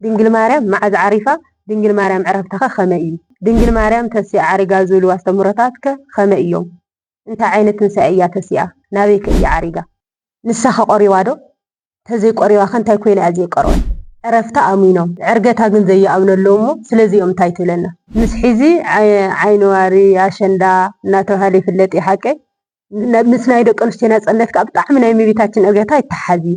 ድንግል ማርያም መዓዝ ዓሪፋ? ድንግል ማርያም ዕረፍታኸ ከመይ እዩ? ድንግል ማርያም ተሲኣ ዓሪጋ ዝብሉ ኣስተምህሮታትከ ከመይ እዮም? እንታይ ዓይነት ትንሳኤ እያ ተሲኣ? ናበይከ እያ ዓሪጋ? ንሳኸ ቆሪባዶ? ተዘይቆሪባኸ እንታይ ኮይና እያ ዘይቀረወት? ዕረፍታ ኣሚኖም ዕርገታ ግን ዘይኣምኑ ኣለዉ እሞ ስለዚኦም እንታይ ትብለና? ምስ ሕዚ ዓይኒዋሪ፣ ኣሸንዳ፣ እናተብሃለ ይፍለጥ እዩ ሓቀይ? ምስ ናይ ደቀንስትዮ ናጽነት ከኣ ብጣዕሚ ናይ እመቤታችን ዕርገታ ይተሓሓዝ እዩ።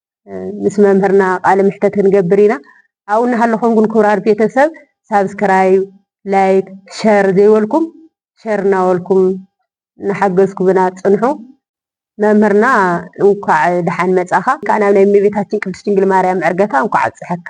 ምስ መምህርና ቃለ ምሕተት ክንገብር ኢና ኣብኡ እናሃለኹም ግን ኩብራት ቤተሰብ ሳብስክራይብ ላይክ ሸር ዘይበልኩም ሸር እናበልኩም እናሓገዝኩምና ፅንሑ መምህርና እንኳዕ ደሓን መፃኻ እንካዕ ናብ ናይ እመቤታችን ቅድስት ድንግል ማርያም ዕርገታ እንኳዕ ኣብፀሐካ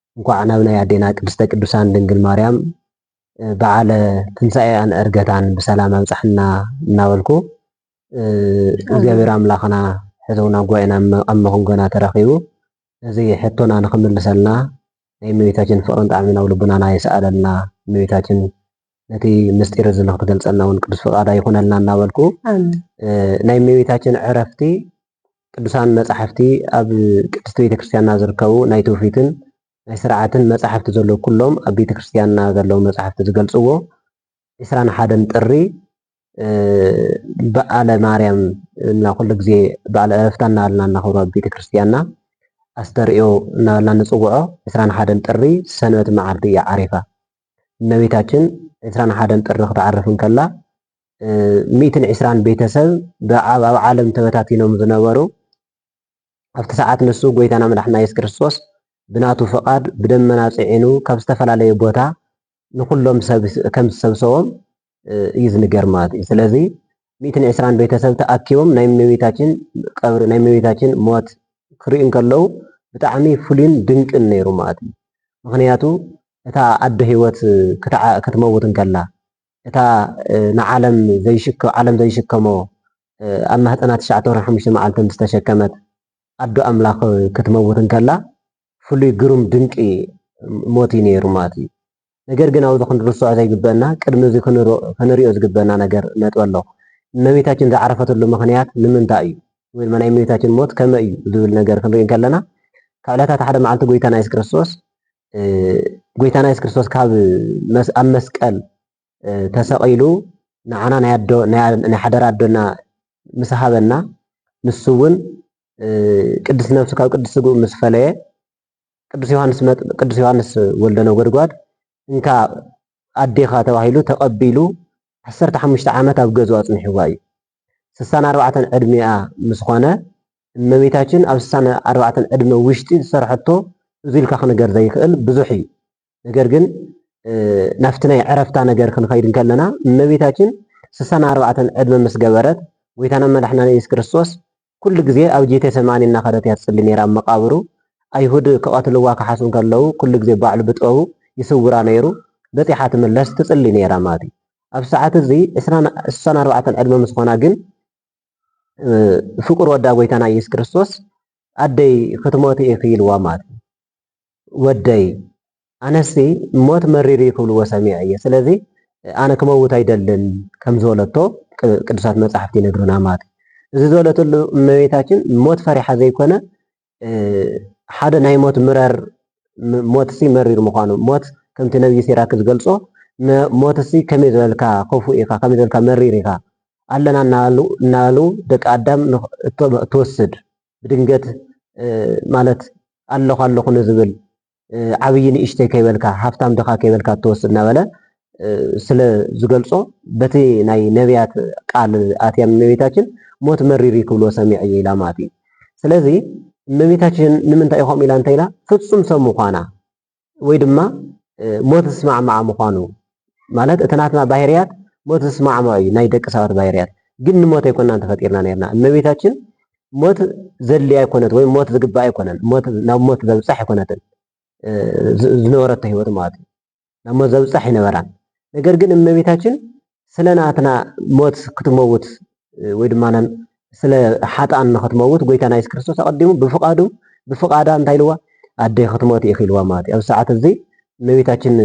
እንኳዕ ናብ ናይ ኣዴና ቅድስተ ቅዱሳን ድንግል ማርያም በዓለ ትንሳኤኣን ዕርገታን ብሰላም ኣብፀሐና እናበልኩ እግዚኣብሔር ኣምላኽና ሕዘውና ጉባኤና ኣብ መኸንጎና ተረኺቡ እዚ ሕቶና ንኽምልሰልና ናይ እመቤታችን ፍቕርን ጣዕምን ኣብ ልቡናና ይስኣለልና እመቤታችን ነቲ ምስጢር እዚ ንክትገልፀልና እውን ቅዱስ ፍቃዳ ይኩነልና እናበልኩ ናይ እመቤታችን ዕረፍቲ ቅዱሳን መፃሕፍቲ ኣብ ቅድስቲ ቤተክርስትያንና ዝርከቡ ናይ ትውፊትን ናይ ስርዓትን መፃሕፍቲ ዘለዉ ኩሎም ኣብ ቤተክርስትያንና ዘለዉ መፃሕፍቲ ዝገልፅዎ ዕስራን ሓደን ጥሪ በዓለ ማርያም እና ኩሉ ግዜ በዓለ ዕረፍታ እናበልና እናኽብሮ ኣብ ቤተ ክርስቲያንና ኣስተርእዮ እናበልና ንፅውዖ ዕስራን ሓደን ጥሪ ሰንበት መዓልቲ እያ ዓሪፋ እመቤታችን ዕስራን ሓደን ጥሪ ክትዓርፍ እንከላ ሚእትን ዕስራን ቤተሰብ ብኣብ ኣብ ዓለም ተበታቲኖም ዝነበሩ ኣብቲ ሰዓት ንሱ ጎይታና መድሓና የሱስ ክርስቶስ ብናቱ ፍቓድ ብደመና ጽዒኑ ካብ ዝተፈላለየ ቦታ ንኹሎም ሰብ ከም ዝሰብሰቦም እዩ ዝንገር ማለት እዩ። ስለዚ ሚእትን ዕስራን ቤተሰብ ተኣኪቦም ናይ እመቤታችን ቀብሪ ናይ እመቤታችን ሞት ክርእዩ እንከለዉ ብጣዕሚ ፍሉይን ድንቅን ነይሩ ማለት እዩ። ምክንያቱ እታ ኣደ ህይወት ክትመውት እንከላ እታ ንዓለም ዘይሽከ ዓለም ዘይሽከሞ ኣብ ማህፀና ትሽዓተ ወርሒ ሓሙሽተ መዓልቲ ምስ ተሸከመት ኣዶ ኣምላኽ ክትመውት እንከላ ፍሉይ ግሩም ድንቂ ሞት እዩ ነይሩ ማለት እዩ። ነገር ግን ኣብዚ ክንርስዖ ዘይግበእና ቅድሚ እዚ ክንሪኦ ዝግበእና ነገር ነጥቢ ኣሎ እመቤታችን ዝዓረፈትሉ ምክንያት ንምንታይ እዩ ወይ ድማ ናይ እመቤታችን ሞት ከመይ እዩ ዝብል ነገር ክንርኢ እንከለና ካብ ዕለታት ሓደ መዓልቲ ጎይታና የሱስ ክርስቶስ ጎይታና የሱስ ክርስቶስ ካብ ኣብ መስቀል ተሰቒሉ ንዓና ናይ ኣዶ ናይ ሓደራ ኣዶና ምስ ሃበና ንሱ እውን ቅድስቲ ነብሱ ካብ ቅድስቲ ስግኡ ምስ ፈለየ ቅዱስ ዮሐንስ መጥምቅ ቅዱስ ዮሐንስ ወልደ ነጎድጓድ እንካ ኣዴኻ ተባሂሉ ተቀቢሉ ዓሰርተ ሓሙሽተ ዓመት ኣብ ገዝኡ ኣጽኒሕዋ እዩ። ስሳን ኣርባዕተን ዕድሚኣ ምስ ኾነ እመቤታችን ኣብ ስሳን ኣርባዕተን ዕድመ ውሽጢ ዝሰርሐቶ እዙይ ኢልካ ክንገር ዘይክእል ብዙሕ እዩ። ነገር ግን ናብቲ ናይ ዕረፍታ ነገር ክንኸይድ እንከለና እመቤታችን ስሳን ኣርባዕተን ዕድመ ምስ ገበረት ጎይታና መድሕናን ኢየሱስ ክርስቶስ ኩሉ ግዜ ኣብ ጄቴ ሰማኒ እናኸደት እያ ትጽሊ ነይራ ኣብ መቃብሩ ኣይሁድ ክቐትልዋ ክሓስቡ ከለዉ ኩሉ ግዜ ባዕሉ ብጥበቡ ይስውራ ነይሩ በጺሓ ትምለስ ትጽሊ ነይራ ማለት እዩ ኣብ ሰዓት እዚ ስሳን ኣርባዕተን ዕድመ ምስ ኾና ግን ፍቁር ወዳ ጎይታና ኢየሱስ ክርስቶስ ኣደይ ክትሞቲ ኢኺ ኢልዋ ማለት እዩ ወደይ ኣነሲ ሞት መሪር እዩ ክብልዎ ሰሚዐ እየ ስለዚ ኣነ ክመውት ኣይደልን ከም ዝበለቶ ቅዱሳት መጻሕፍቲ ይነግሩና ማለት እዩ። እዚ ዝበለትሉ እመቤታችን ሞት ፈሪሓ ዘይኮነ ሓደ ናይ ሞት ምረር ሞትሲ መሪር ምዃኑ ሞት ከምቲ ነብዪ ሲራክ ዝገልጾ ሞትሲ ከመይ ዝበልካ ክፉእ ኢኻ ከመይ ዝበልካ መሪር ኢኻ ኣለና እናበሉ ደቂ ኣዳም እትወስድ ብድንገት ማለት ኣለኹ ኣለኹ ንዝብል ዓብዪ ንእሽተይ ከይበልካ ሃፍታም ድኻ ከይበልካ እትወስድ እናበለ ስለ ዝገልጾ በቲ ናይ ነቢያት ቃል ኣትያ እመቤታችን ሞት መሪር እዩ ክብልዎ ሰሚዐ እየ ኢላ ማለት እዩ። ስለዚ እመቤታችን ንምንታይ እዩ ከምኡ ኢላ እንተ ኢላ ፍጹም ሰብ ምዃና ወይ ድማ ሞት ዝስማዕማዓ ምዃኑ ማለት እቲ ናትና ባህርያት ሞት ዝስማዕማዕ እዩ ናይ ደቂ ሰባት ባህርያት ግን ንሞት ኣይኮናን ተፈጢርና ነርና እመቤታችን ሞት ዘል ኣይኮነት ወይ ሞት ዝግባ ኣይኮነን ናብ ሞት ዘብፃሕ ኣይኮነትን ዝነበረቶ ህይወት ማለት እዩ ናብ ሞት ዘብፃሕ ይነበራን ነገር ግን እመቤታችን ስለ ናትና ሞት ክትመውት ወይ ድማ ስለ ሓጥኣን ንኽትመውት ጎይታና የሱስ ክርስቶስ ኣቐዲሙ ብፍቓዱ ብፍቓዳ እንታይ ኢልዋ ኣደይ ክትሞት ኢኺ ኢልዋ ማለት እዩ። ኣብዚ ሰዓት እዚ እመቤታችን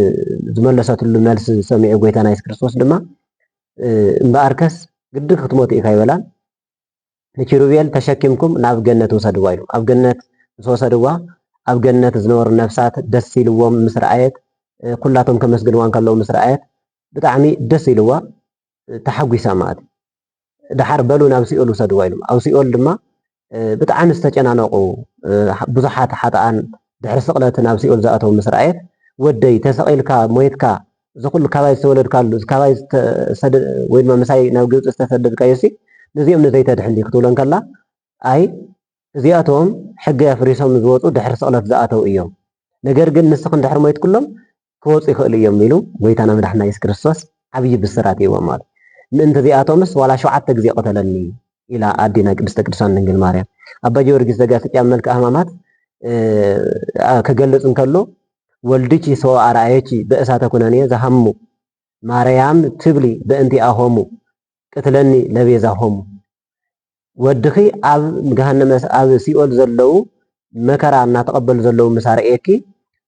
ዝመለሰትሉ መልሲ ዝሰሚዑ ጎይታና የሱስ ክርስቶስ ድማ እምበኣርከስ ግዲ ክትሞት ኢኻ ይበላን ንኪሩቤል ተሸኪምኩም ናብ ገነት ውሰድዋ ኢሉ ኣብ ገነት ምስ ወሰድዋ ኣብ ገነት ዝነበሩ ነፍሳት ደስ ኢልዎም ምስ ረኣየት ኩላቶም ከመስግንዋ እንከለዉ ምስ ረኣየት ብጣዕሚ ደስ ኢልዋ ተሓጒሳ መኣት ደሓር በሉ ናብ ሲኦል ውሰድዋ ኢሎም ኣብ ሲኦል ድማ ብጣዕሚ ዝተጨናነቑ ብዙሓት ሓጥኣን ድሕሪ ስቕለት ናብ ሲኦል ዝኣተው ምስ ረኣየት ወደይ ተሰቒልካ ሞይትካ እዚ ኩሉ ካባይ ዝተወለድካሉ ካባይ ወይ ድማ ምሳይ ናብ ግብፂ ዝተሰደድካዮ ሲ ንዚኦም ንዘይተድሕን ድዩ ክትብሎ እንከላ ኣይ እዚኣቶም ሕጊ ኣፍሪሶም ዝወፁ ድሕሪ ስቕለት ዝኣተው እዮም ነገር ግን ንስኽን ድሕሪ ሞይትኩሎም ክወጹ ይኽእሉ እዮም ኢሉ ጎይታና መድሓኒና የሱስ ክርስቶስ ዓብዪ ብስራት ሂብዎም ማለት እዩ። ምእንቲ እዚኣቶምስ ዋላ ሸውዓተ ግዜ ቅተለኒ ኢላ ኣዴና ቅድስተ ቅዱሳን ድንግል ማርያም። ኣባ ጊዮርጊስ ዘጋስጫ መልክኣ ሕማማት ክገልጽ እንተሎ ወልድኪ ሰወ ኣርኣየኪ በእሳተ ኩነኔ ዘሃሙ ማርያም ትብሊ በእንቲኣሆሙ ቅትለኒ ለቤዛሆሙ ወድኺ ኣብ ገሃነመ ኣብ ሲኦል ዘለዉ መከራ እናተቐበሉ ዘለዉ ምስ ኣርእየኪ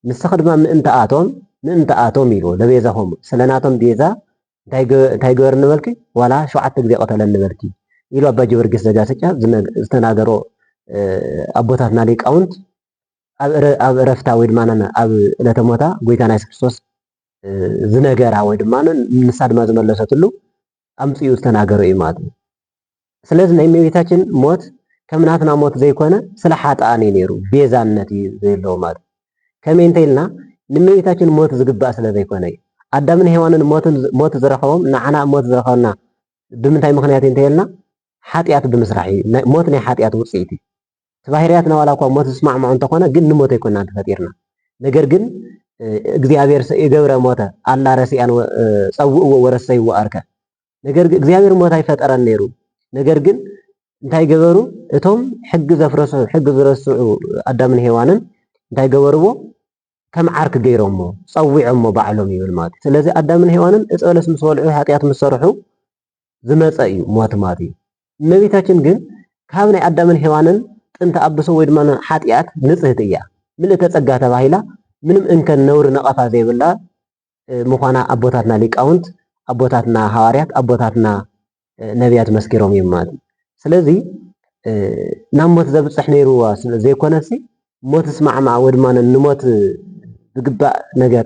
ንስኺ ድማ ምእንትኣቶም ምእንትኣቶም ኢሉ ለቤዛሆሙ ስለ ናቶም ቤዛ እንታይ ግበርኒ በልኪ ዋላ ሸውዓተ ግዜ ቅተለኒ በልኪ ኢሉ ኣባ ጊዮርጊስ ዘጋስጫ ዝተናገሮ ኣቦታትና ሊቃውንት ኣብ እረፍታ ወይ ድማ ኣብ ዕለተ ሞታ ጎይታና የሱስ ክርስቶስ ዝነገራ ወይ ድማ ንሳ ድማ ዝመለሰትሉ ኣምጺኡ ዝተናገሮ እዩ ማለት እዩ። ስለዚ ናይ እመቤታችን ሞት ከም ናትና ሞት ዘይኮነ ስለ ሓጥኣን እዩ ነይሩ፣ ቤዛነት እዩ ዘየለዎ ማለት እዩ። ከመይ እንተኢልና ንእመቤታችን ሞት ዝግባእ ስለ ዘይኮነ እዩ። ኣዳምን ሔዋንን ሞት ዝረኸቦም ንዓና ሞት ዝረኸበና ብምንታይ ምኽንያት እዩ እንተኢልና ሓጢኣት ብምስራሕ እዩ። ሞት ናይ ሓጢኣት ውጽኢት እዩ። እቲ ባህርያትና ዋላ እኳ ሞት ዝስማዕምዖ እንተኾነ ግን ንሞት ኣይኮናን ተፈጢርና ነገር ግን እግዚኣብሔር ሰኢገብረ ሞተ ኣላ ረሲኣን ጸውእዎ ወረሰይዎ ኣርከ ነገር ግን እግዚኣብሔር ሞት ኣይፈጠረን ነይሩ ነገር ግን እንታይ ገበሩ? እቶም ሕጊ ዘፍረሱ ሕጊ ዝረስዑ ኣዳምን ሄዋንን እንታይ ገበርዎ? ከም ዓርክ ገይሮሞ ጸዊዖሞ ባዕሎም ይብል ማለት እዩ። ስለዚ ኣዳምን ሄዋንን እፀ በለስ ምስ በልዑ ኃጢኣት ምስ ሰርሑ ዝመጸ እዩ ሞት ማለት እዩ። እመቤታችን ግን ካብ ናይ ኣዳምን ሔዋንን ጥንተ ኣብሶ ወይ ድማ ሓጥያት ንጽህቲ እያ። ምልእተ ጸጋ ተባሂላ ምንም እንከን ነውሪ ነቐፋ ዘይብላ ምዃና ኣቦታትና ሊቃውንት፣ ኣቦታትና ሃዋርያት፣ ኣቦታትና ነብያት መስኪሮም እዮም ማለት እዩ። ስለዚ ናብ ሞት ዘብጽሕ ነይሩ ዘይኮነሲ ሞትስ ማዕማዕ ወይ ድማ ንሞት ዝግባእ ነገር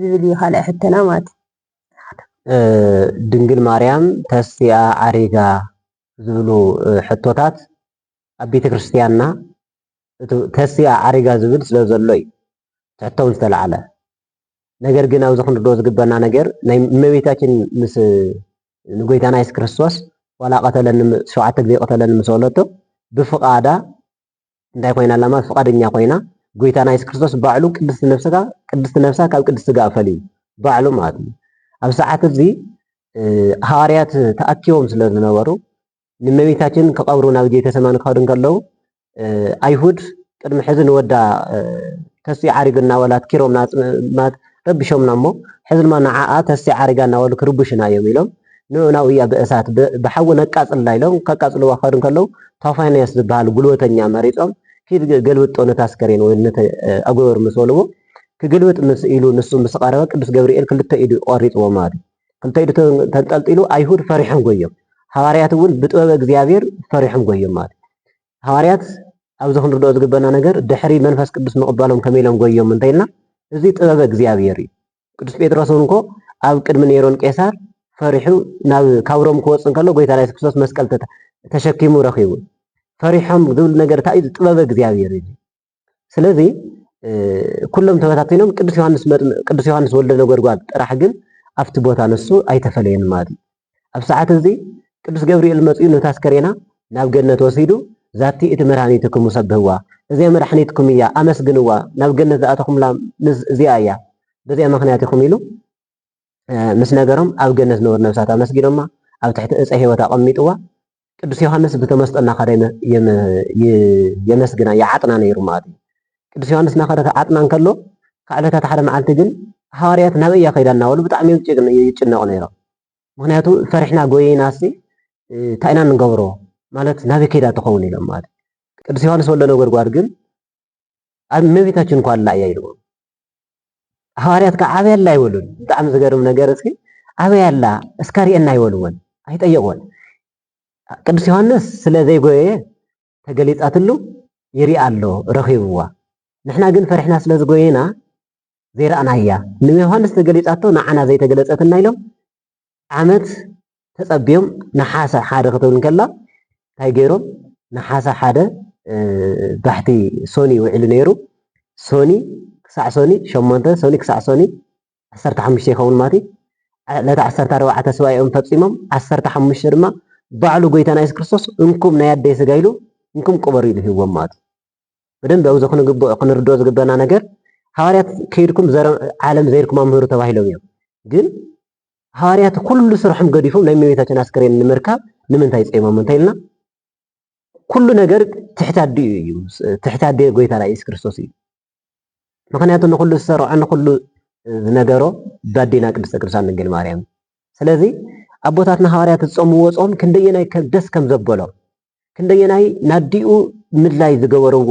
ዝብል እዩ ካልኣይ ሕቶና ማለት እዩ። ድንግል ማርያም ተስቲኣ ዓሪጋ ዝብሉ ሕቶታት ኣብ ቤተ ክርስትያንና ተስቲኣ ዓሪጋ ዝብል ስለ ዘሎ እዩ ትሕቶውን ዝተላዕለ ነገር ግን ኣብዚ ክንርድኦ ዝግበና ነገር ናይ እመቤታችን ምስ ንጎይታና የሱስ ክርስቶስ ዋላ ቀተለኒ ሸውዓተ ግዜ ቀተለኒ ምስ በለቶ ብፍቓዳ እንታይ ኮይና ኣላ ማለት ፍቃደኛ ኮይና ጎይታና የሱስ ክርስቶስ ባዕሉ ቅድስቲ ነፍስካ ቅድስቲ ነፍሳ ካብ ቅድስቲ ስጋ ፈልዩ ባዕሉ ማለት እዩ ኣብ ሰዓት እዚ ሃዋርያት ተኣኪቦም ስለ ዝነበሩ ንመቤታችን ክቀብሩ ናብ ጌተሰማኒ ክኸዱ እንከለዉ ኣይሁድ ቅድሚ ሕዚ ንወዳ ተስኡ ዓሪጉ እናበላ ኣትኪሮም ረቢሾምና እሞ ሕዚ ድማ ንዓኣ ተስያ ዓሪጋ እናበሉ ክርብሹና እዮም ኢሎም ንዑ ናብኡያ ብእሳት ብሓዊ ነቃፅላ ኢሎም ከቃፅልዋ ክኸዱ እንከለው ቶፋንያስ ዝብሃል ጉልበተኛ መሪፆም ኪድ ገልብጦ ነቲ ኣስከሬን ወይ ነቲ ኣጎበር ምስ በልዎ ክግልብጥ ምስ ኢሉ ንሱ ምስ ቐረበ ቅዱስ ገብርኤል ክልተ ኢዱ ቆሪፅዎ ማለት እዩ ክልተ ኢዱ ተንጠልጢሉ ኣይሁድ ፈሪሖም ጎዮም ሃዋርያት እውን ብጥበበ እግዚኣብሔር ፈሪሖም ጎዮም ማለት እዩ ሃዋርያት ኣብዚ ክንርድኦ ዝግበና ነገር ድሕሪ መንፈስ ቅዱስ ምቕባሎም ከመይ ኢሎም ጎዮም እንተ ኢልና እዚ ጥበበ እግዚኣብሔር እዩ። ቅዱስ ጴጥሮስ እውን እኮ ኣብ ቅድሚ ኔሮን ቄሳር ፈሪሑ ናብ ካብ ሮም ክወጽእ እንከሎ ጎይታ ኢየሱስ ክርስቶስ መስቀል ተሸኪሙ ረኺቡ ፈሪሖም ዝብል ነገር እንታይ እዩ? ጥበበ እግዚኣብሔር እዩ። ስለዚ ኩሎም ተበታቲኖም ቅዱስ ዮሐንስ ቅዱስ ዮሐንስ ወልደ ነጎድጓድ ጥራሕ ግን ኣብቲ ቦታ ንሱ ኣይተፈለየን ማለት እዩ። ኣብ ሰዓት እዚ ቅዱስ ገብርኤል መፅኡ ነታ ኣስከሬና ናብ ገነት ወሲዱ ዛቲ እቲ መድኃኒትክሙ ሰብህዋ እዚኣ መድኃኒትኩም እያ ኣመስግንዋ ናብ ገነት ዝኣተኹምላ ምስ እዚኣ እያ በዚኣ ምክንያት ኢኹም ኢሉ ምስ ነገሮም ኣብ ገነት ዝነበሩ ነብሳት ኣመስጊኖማ ኣብ ትሕቲ እፀ ሕይወት ኣቐሚጥዋ ቅዱስ ዮሐንስ ብተመስጦ እናኸደ የመስግና ይዓጥና ነይሩ ማለት እዩ። ቅዱስ ዮሐንስ እናኸደ ክዓጥና እንከሎ ካብ ዕለታት ሓደ መዓልቲ ግን ሃዋርያት ናበይ እያ ከይዳ እናበሉ ብጣዕሚ ይጭነቑ ነይሮም። ምክንያቱ ፈሪሕና ጎይናሲ እንታይ ኢና ንገብሮ ማለት ናበይ ከይዳ ትኸውን ኢሎም ማለት ቅዱስ ዮሐንስ ወልደ ነጎድጓድ ግን ኣብ እመቤታችን እኳ ኣላ እያ ኢልዎም። ሃዋርያት ከዓ ኣበይ ኣላ ይበሉን። ብጣዕሚ ዝገርም ነገር እስኪ ኣበይ ኣላ እስካ ርኤና ይበልዎን ኣይጠየቅዎን። ቅዱስ ዮሐንስ ስለ ዘይጎየ ተገሊጻትሉ ይርኢ ኣሎ ረኺብዋ። ንሕና ግን ፈሪሕና ስለ ዝጎየና ዘይረኣናያ ንዮሐንስ ተገሊጻቶ ንዓና ዘይተገለጸትና ኢሎም ዓመት ተጸብዮም ነሓሰ ሓደ ክትብል እንከላ እንታይ ገይሮም ነሓሰ ሓደ ባሕቲ ሶኒ ውዒሉ ነይሩ ሶኒ ክሳዕ ሶኒ ሸሞንተ ሶኒ ክሳዕ ሶኒ ዓሰርተ ሓሙሽተ ይኸውን ማለት እዩ ዕለት ዓሰርተ ኣርባዕተ ስባኤኦም ፈፂሞም ዓሰርተ ሓሙሽተ ድማ ባዕሉ ጎይታና የሱስ ክርስቶስ እንኩም ናይ ኣደይ ስጋ ኢሉ እንኩም ቅበሩ ኢሉ ሂዎም ማለት እዩ በደንብ ኣብዚ ክንርድኦ ዝግበና ነገር ሃዋርያት ከይድኩም ዓለም ዘይርኩም ኣምህሩ ተባሂሎም እዮም ግን ሃዋርያት ኩሉ ስርሖም ገዲፎም ናይ እመቤታችን ኣስከሬን ንምርካብ ንምንታይ ጸይሞም እንተይልና ኩሉ ነገር ትሕቲ ኣዲኡ እዩ ትሕቲ ኣዲኡ ጎይታና ኢየሱስ ክርስቶስ እዩ ምክንያቱ ንኩሉ ዝሰርዖ ንኩሉ ዝነገሮ ባዴና ቅድስተ ቅዱሳን ድንግል ማርያም ስለዚ ኣቦታትና ሃዋርያት ዝጾምዎ ጾም ክንደየናይ ደስ ከም ዘበሎም ክንደየናይ ናዲኡ ምድላይ ዝገበርዎ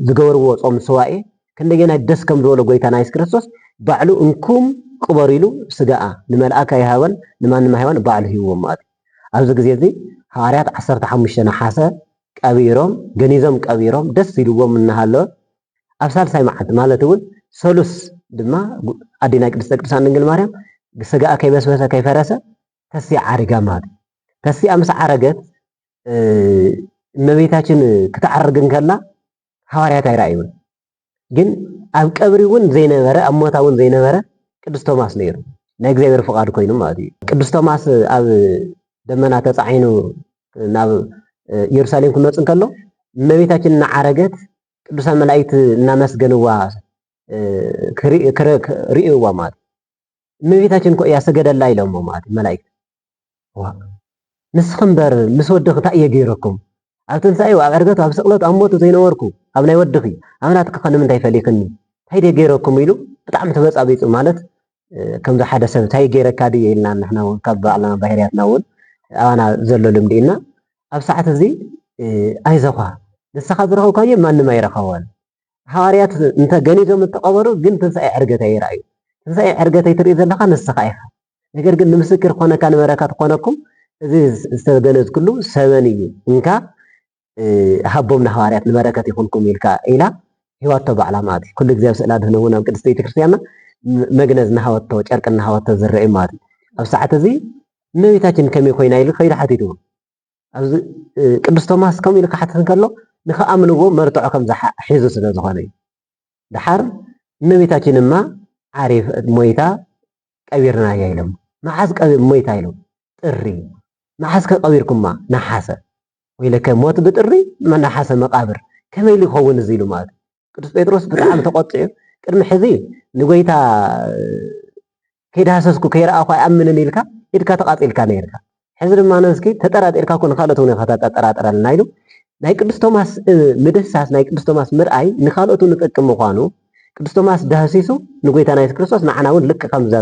ዝገበርዎ ጾም ሰዋኤ ክንደየናይ ደስ ከም ዝበሎ ጎይታና የሱስ ክርስቶስ ባዕሉ እንኩም ቅበሩ ኢሉ ስጋኣ ንመልኣክ ኣይሃበን ንማንም ኣይሃበን ባዕሉ ሂብዎ ማለት እዩ። ኣብዚ ግዜ እዚ ሃዋርያት ዓሰርተ ሓሙሽተ ነሓሰ ቀቢሮም ገኒዞም ቀቢሮም ደስ ኢልዎም እናሃለወ ኣብ ሳልሳይ መዓልቲ ማለት እውን ሰሉስ ድማ ኣዴና ቅድስተ ቅዱሳን ድንግል ማርያም ስጋኣ ከይበስበሰ ከይፈረሰ ተስፊ ዓሪጋ ማለት እዩ። ተስፊኣ ምስ ዓረገት እመቤታችን ክትዓርግ እንከላ ሃዋርያት ኣይረኣዩን። ግን ኣብ ቀብሪ እውን ዘይነበረ ኣብ ሞታ እውን ዘይነበረ ቅዱስ ቶማስ ነይሩ ናይ እግዚኣብሔር ፍቓድ ኮይኑ ማለት እዩ። ቅዱስ ቶማስ ኣብ ደመና ተፃዒኑ ናብ ኢየሩሳሌም ክመፅ እንከሎ እመቤታችን እናዓረገት ቅዱሳን መላእክት እናመስገንዋ ርእይዋ ማለት እመቤታችን እኮ እያ ሰገደላ ኢሎሞ ማለት መላእክት ዋእ ንስኺ እምበር ምስ ወድኺ እንታይ እየ ገይረኩም ኣብ ትንሳኤው ኣብ ዕርገቱ ኣብ ስቕለቱ ኣብ ሞቱ ዘይነበርኩ ኣብ ናይ ወድኺ ኣብ ናትኪ ከ ንምንታይ ፈሊኽኒ እንታይ ድየ ገይረኩም ኢሉ ብጣዕሚ ተበጻቢጹ ማለት ከምዚ ሓደ ሰብ እንታይ ገይረካ ድየ ኢልና ንሕና እውን ካብ ባዕልና ባህርያትና እውን ኣባና ዘሎ ልምዲ እና ኣብ ሰዓት እዚ ኣይዘዃ ንስኻ ዝረኸብካዮ ማንም ኣይረኸቦን ሃዋርያት እንተ ገኒዞም እንተቐበሩ ግን ትንሣኤ ዕርገት ኣይረኣዩ። ትንሣኤ ዕርገተይ ትርኢ ዘለኻ ንስኻ ኢኻ። ነገር ግን ንምስክር ኮነካ ንበረከት ኮነኩም እዚ ዝተገነዝክሉ ሰበን እዩ እንካ ሃቦም ንሃዋርያት ንበረከት ይኹንኩም ኢልካ ኢላ ሂዋቶ ባዕላ ማለት እዩ። ኩሉ ግዜ ኣብ ስእላ ድህነ እውን ኣብ ቅድስቲ ቤተክርስቲያንና መግነዝ እናሃወቶ ጨርቂ እናሃወቶ ዝረአዩ ማለት እዩ። ኣብ ሰዓት እዚ እመቤታችን ከመይ ኮይና ኢሉ ከይዱ ሓቲትዎ ኣብዚ ቅዱስ ቶማስ ከምኡ ኢሉ ክሓትት እንከሎ ንክኣምንዎ መርትዖ ከም ሒዙ ስለ ዝኾነ እዩ። ደሓር እመቤታችን እማ ዓሪፍ ሞይታ ቀቢርናያ ኢሎም መዓዝ ሞይታ ኢሎም ጥሪ መዓዝ ከቀቢርኩማ ነሓሰ ወይለከ ሞት ብጥሪ ነሓሰ መቃብር ከመይ ኢሉ ይኸውን እዚ ኢሉ ማለት ቅዱስ ጴጥሮስ ብጣዕሚ ተቆጢዑ ቅድሚ ሕዚ ንጎይታ ከይዳህሰስኩ ከይረኣኹ ኣይኣምንን ኢልካ ኢድካ ተቃጺልካ ነይርካ ሕዚ ድማ ነስኪ ተጠራጢርካ እኮ ንካልኦት እውን ኢኻ ተጠራጥረልና ኢሉ ናይ ቅዱስ ቶማስ ምድህሳስ ናይ ቅዱስ ቶማስ ምርኣይ ንካልኦት እውን ዝጠቅም ምዃኑ ቅዱስ ቶማስ ዳህሲሱ ንጎይታና የሱስ ክርስቶስ ንዓና እውን ልክ ከምዛ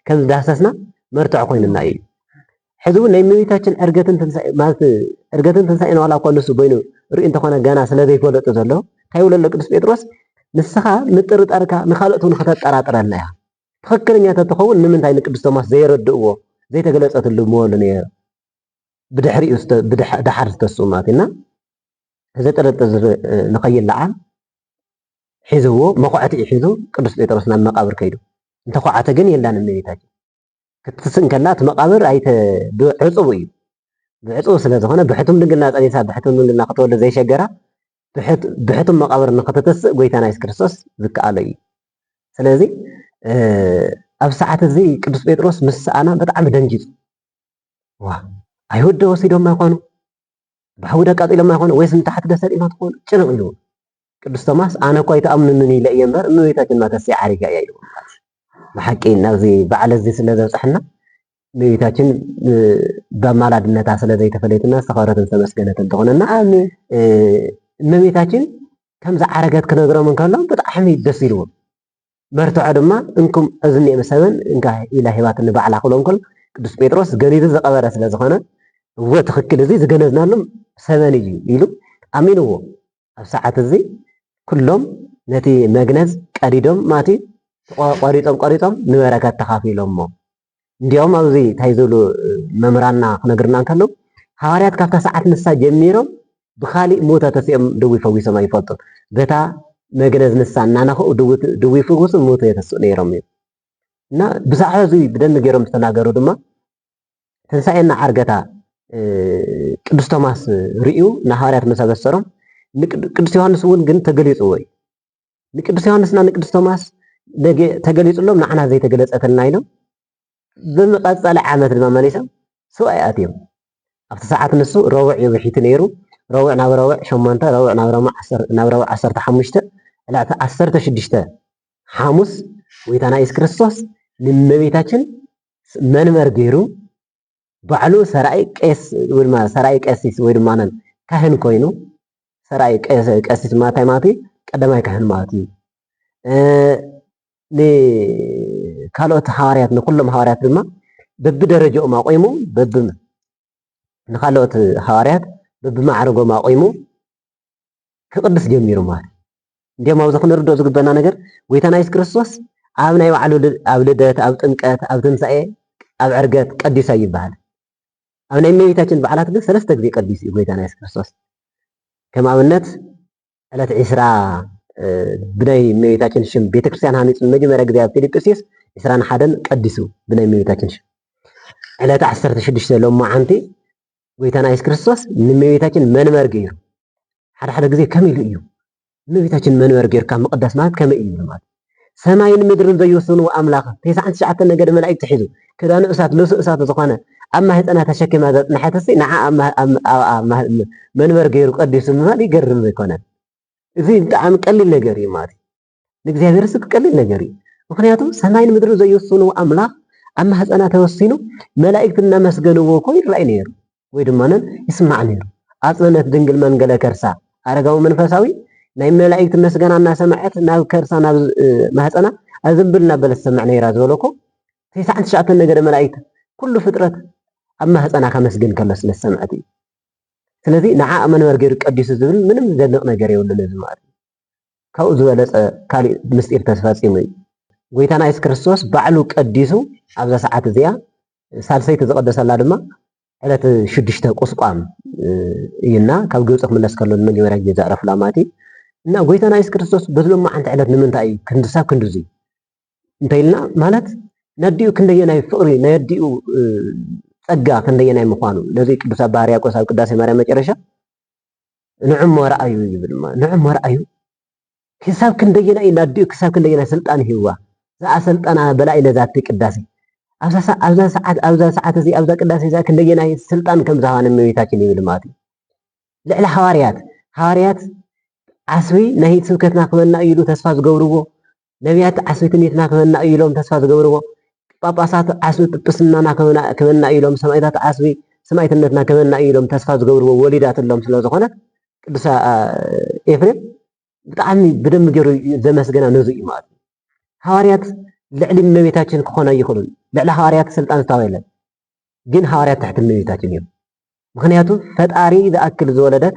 ከም ዝዳህሰስና መርትዖ ኮይኑና እዩ ሕዚ እውን ናይ እመቤታችን ዕርገትን ትንሳኤ ማለት ዕርገትን ትንሳኤን ዋላ እኳ ንሱ በይኑ ርእዩ እንተኾነ ገና ስለ ዘይፈለጡ ዘሎ እንታይ ይብሎ ኣሎ ቅዱስ ጴጥሮስ ንስኻ ምጥርጠርካ ንካልኦት እውን ከተጠራጥረልና እያ ትኽክለኛ ተትኸውን ንምንታይ ንቅዱስ ቶማስ ዘየረድእዎ ዘይተገለጸትሉ ምበሉ ነይሩ ብድሕሪኡ ድሓር ዝተስኡ ማለት እና እዚ ጥርጥር ንኸይለዓል ሒዝዎ መኹዐቲ ሒዙ ቅዱስ ጴጥሮስ ናብ መቃብር ከይዱ እንተኹዓተ ግን የላን እመቤታችን ክትትስእ እንከላ እቲ መቓብር ኣይተ ብዕጹው እዩ። ብዕጹው ስለ ዝኾነ ብሕቱም ድንግልና ጸኒሳ ብሕቱም ድንግልና ክትወልድ ዘይሸገራ ብሕቱም መቓብር ንክትትስእ ጎይታና የሱስ ክርስቶስ ዝከኣሎ እዩ። ስለዚ ኣብ ሰዓት እዚ ቅዱስ ጴጥሮስ ምስ ሰኣና ብጣዕሚ ደንጊጹ ዋ ኣይሁድ ዶ ወሲዶማ ይኾኑ ብሓዊ ዶ ኣቃጺሎማ ይኾኑ ወይስ ንታሕቲ ዶ ሰጢማ ትኾኑ ጭንቕ ኢልዎ ቅዱስ ቶማስ ኣነ እኮ ኣይትኣምኑንን ኢለ እየ እምበር እመቤታችን ማተስያ ዓሪጋ እያ ኢልዎም ማለት እዩ። ብሓቂ ናብዚ በዓል እዚ ስለ ዘብፅሐና እመቤታችን ብኣማላድነታ ስለ ዘይተፈለየትና ዝተኸበረትን ዝተመስገነትን ትኾነና። ብጣዕሚ እመቤታችን ከም ዝዓረገት ክነግሮም እንከሎም ብጣዕሚ ደስ ኢልዎም መርትዖ ድማ እንኩም እዚ እኒኤ መሰበን እንካ ኢላ ሂባትኒ ባዕላ ክብሎም ከሎ ቅዱስ ጴጥሮስ ገኒዙ ዝቐበረ ስለ ዝኾነ እወ ትኽክል እዚ ዝገነዝናሉ ሰበን እዩ ኢሉ ኣሚንዎ ኣብ ሰዓት እዚ ኩሎም ነቲ መግነዝ ቀዲዶም ማቲ ቆሪጾም ቆሪጾም ንበረከት ተኻፊሎሞ እንዲያውም ኣብዚ እንታይ ዝብሉ መምህራንና ክነግርና እንከለዉ ሃዋርያት ካብታ ሰዓት ንሳ ጀሚሮም ብካሊእ ሙተ ተሲኦም ድዊ ፈዊሶም ኣይፈልጡን በታ መግነዝ ንሳ እናነኸኡ ድዊ ፍውሱ ሙተ የተስኡ ነይሮም እዩ እና ብዛዕባ እዚ ብደንቢ ገይሮም ዝተናገሩ ድማ ትንሳኤና ዓርገታ ቅዱስ ቶማስ ርእዩ ንሃዋርያት ምስ ኣበሰሮም ንቅዱስ ዮሐንስ እውን ግን ተገሊጽዎ እዩ። ንቅዱስ ዮሐንስና ንቅዱስ ቶማስ ተገሊጽሎም ንዓና ዘይተገለጸተልና ኢሎም ብዝቐጸለ ዓመት ድማ መሊሶም ሰብኣይ ኣትዮም ኣብቲ ሰዓት ንሱ ረቡዕ እዩ ብሒቲ ነይሩ ረቡዕ ናብ ረቡዕ ሸሞንተ ረቡዕ ናብ ረቡዕ ዓሰርተ ሓሙሽተ ዕላዕቲ ዓሰርተ ሽዱሽተ ሓሙስ ጎይታና ኢየሱስ ክርስቶስ ንእመቤታችን መንበር ገይሩ ባዕሉ ሰራኢ ቄስ ወይ ድማ ሰራኢ ቀሲስ ወይ ድማ ካህን ኮይኑ ሰራኢ ቀሲስ ማታይ ማለት እዩ ቀዳማይ ካህን ማለት እዩ ንካልኦት ሃዋርያት ንኩሎም ሃዋርያት ድማ በብደረጃኦም ኣቆይሙ በብ ንካልኦት ሃዋርያት በብማዕረጎም ኣቆይሙ ክቅድስ ጀሚሩ ማለት እንዲም ኣብዚ ክንርድኦ ዝግበና ነገር ጎይታና የሱስ ክርስቶስ ኣብ ናይ ባዕሉ ኣብ ልደት ኣብ ጥምቀት ኣብ ትንሳኤ ኣብ ዕርገት ቀዲሳ ይበሃል ኣብ ናይ እመቤታችን በዓላት ግን ሰለስተ ግዜ ቀዲሱ እዩ ጎይታና የሱስ ክርስቶስ ከም ኣብነት ዕለት ዒስራ ብናይ እመቤታችን ሽም ቤተክርስትያን ሃኒፁ ንመጀመርያ ግዜ ኣብ ፊልጵስዩስ ዒስራን ሓደን ቀዲሱ ብናይ እመቤታችን ሽም ዕለት ዓሰርተ ሽዱሽተ ሎማዓንቲ ጎይታና የሱስ ክርስቶስ ንእመቤታችን መንበር ገይሩ ሓደ ሓደ ግዜ ከመይ ኢሉ እዩ እመቤታችን መንበር ገይርካ ምቕዳስ ማለት ከመይ እዩ ማለት ሰማይን ምድርን ዘይውስኑ ኣምላኽ ተስዓን ትሽዓተ ነገድ መላእክት ሒዙ ክዳኑ እሳት ልብሱ እሳት ዝኾነ ኣብ ማህፀና ተሸኪማ ዘፅንሐትሲ ንዓ መንበር ገይሩ ቀዲሱ ምባል ይገርም ዘይኮነን። እዚ ብጣዕሚ ቀሊል ነገር እዩ ማለት እዩ። ንእግዚኣብሔር ስብ ቀሊል ነገር እዩ። ምክንያቱ ሰማይን ምድሪ ዘይውስኑ ኣምላኽ ኣብ ማህፀና ተወሲኑ መላእክት እናመስገንዎ እኮ ይረኣይ ነይሩ ወይ ድማ ይስማዕ ነይሩ። ኣፅነነት ድንግል መንገለ ከርሳ ኣረጋዊ መንፈሳዊ ናይ መላእክት መስገና እናሰማዐት ናብ ከርሳ ናብ ማህፀና ኣዘንብል እናበለ ትሰምዕ ነይራ ዝበሎ እኮ ትስዓን ትሽዓተን ነገደ መላእክት ኩሉ ፍጥረት ኣብ ማህፀና ከመስግን ከሎ ስለ ዝሰምዐት እዩ። ስለዚ ንዓ መን ገይሩ ቀዲሱ ዝብል ምንም ዝደንቕ ነገር የብሉን እዚ ማለት እዩ። ካብኡ ዝበለጸ ካልእ ምስጢር ተፈጺሙ እዩ። ጎይታና የሱስ ክርስቶስ ባዕሉ ቀዲሱ ኣብዛ ሰዓት እዚኣ ሳልሰይቲ ዝቐደሰላ ድማ ዕለት ሽዱሽተ ቁስቋም እዩና ካብ ግብፂ ክምለስ ከሎ ንመጀመርያ ግዜ ዘዕረፍላ ማለት እዩ እና ጎይታና የሱስ ክርስቶስ በዚ ሎማዓንቲ ዕለት ንምንታይ እዩ ክንድሳብ ክንድዙይ እንተይልና ማለት ነዲኡ ክንደየናይ ፍቕሪ ናይ ኣዲኡ ጸጋ ክንደየናይ ምዃኑ ነዚ ቅዱስ ኣባ ሕርያቆስ ኣብ ቅዳሴ ማርያም መጨረሻ ንዕሞ ርኣዩ ይብል እሞ ንዕሞ ርኣዩ ክሳብ ክንደየናይ እዩ ናዲኡ ክሳብ ክንደየናይ ስልጣን ሂብዋ ዝኣሰልጠና በላኢ ነዛቲ ቅዳሴ ኣብዛ ሰዓት ኣብዛ ሰዓት እዚ ኣብዛ ቅዳሴ እዛ ክንደየናይ ስልጣን ከም ዝሃባ ንእመቤታችን ይብል ማለት እዩ ልዕሊ ሃዋርያት ሃዋርያት ዓስቢ ናይ ስብከትና ክበና እዩ ኢሉ ተስፋ ዝገብርዎ ነብያት ዓስቢ ትንቢትና ክህበና እዩ ኢሎም ተስፋ ዝገብርዎ፣ ጳጳሳት ዓስቢ ጵጵስናና ክህበና እዩ ኢሎም፣ ሰማእታት ዓስቢ ሰማእትነትና ክህበና እዩ ኢሎም ተስፋ ዝገብርዎ ወሊዳትሎም ስለ ዝኾነት ቅዱስ ኤፍሬም ብጣዕሚ ብደንብ ገይሩ ዘመስገና ነዙ እዩ ማለት እዩ። ሃዋርያት ልዕሊ እመቤታችን ክኾኑ ኣይኽእሉን። ልዕሊ ሃዋርያት ስልጣን ዝታወ የለን። ግን ሃዋርያት ትሕቲ እመቤታችን እዮም። ምክንያቱ ፈጣሪ ዝኣክል ዝወለደት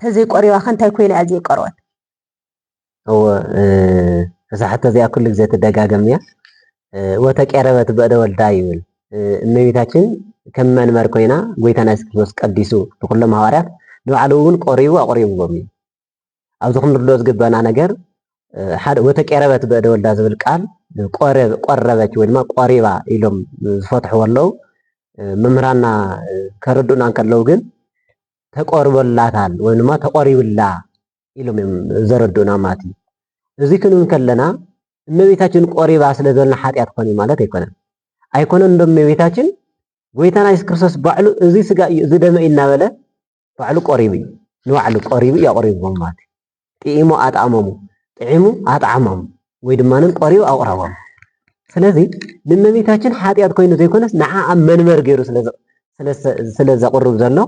ተዘይ ቆሪባ ከ እንታይ ኮይና እያ ዘይቀረወት? እወ እዛ ሕቶ እዚኣ ኩሉ ግዜ ትደጋገም እያ። ወተቄረበት በእደ ወልዳ ይብል እመቤታችን ከም መንበር ኮይና ጎይታና የሱስ ክርስቶስ ቀዲሱ ንኩሎም ሃዋርያት ንባዕሉ እውን ቆሪቡ ኣቑሪብዎም እዩ። ኣብዚ ክንርዶ ዝግበና ነገር ሓደ ወተቄረበት በእደ ወልዳ ዝብል ቃል ቆረበች ወይ ድማ ቆሪባ ኢሎም ዝፈትሕዎ ኣለው። መምህራና ከረድኡና እንከለው ግን ተቆርበላታል ወይም ድማ ተቆሪብላ ኢሎም እዮም ዘረድኡና ማለት እዩ። እዚ ክንብል ከለና እመቤታችን ቆሪባ ስለ ዘለና ሓጢኣት ኮን እዩ ማለት ኣይኮነን። ኣይኮነን ዶ እመቤታችን ጎይታና የሱስ ክርስቶስ ባዕሉ እዚ ስጋ እዩ እዚ ደመ እዩ እናበለ ባዕሉ ቆሪቡ እዩ ንባዕሉ ቆሪቡ እዩ ኣቆሪብዎም ማለት እዩ። ጥኢሙ ኣጥኣሞሙ፣ ጥዒሙ ኣጥዓሞም ወይ ድማ ቆሪቡ ኣቑረቦም። ስለዚ ንእመቤታችን ሓጢኣት ኮይኑ ዘይኮነስ ንዓ ኣብ መንበር ገይሩ ስለ ዘቕርብ ዘሎ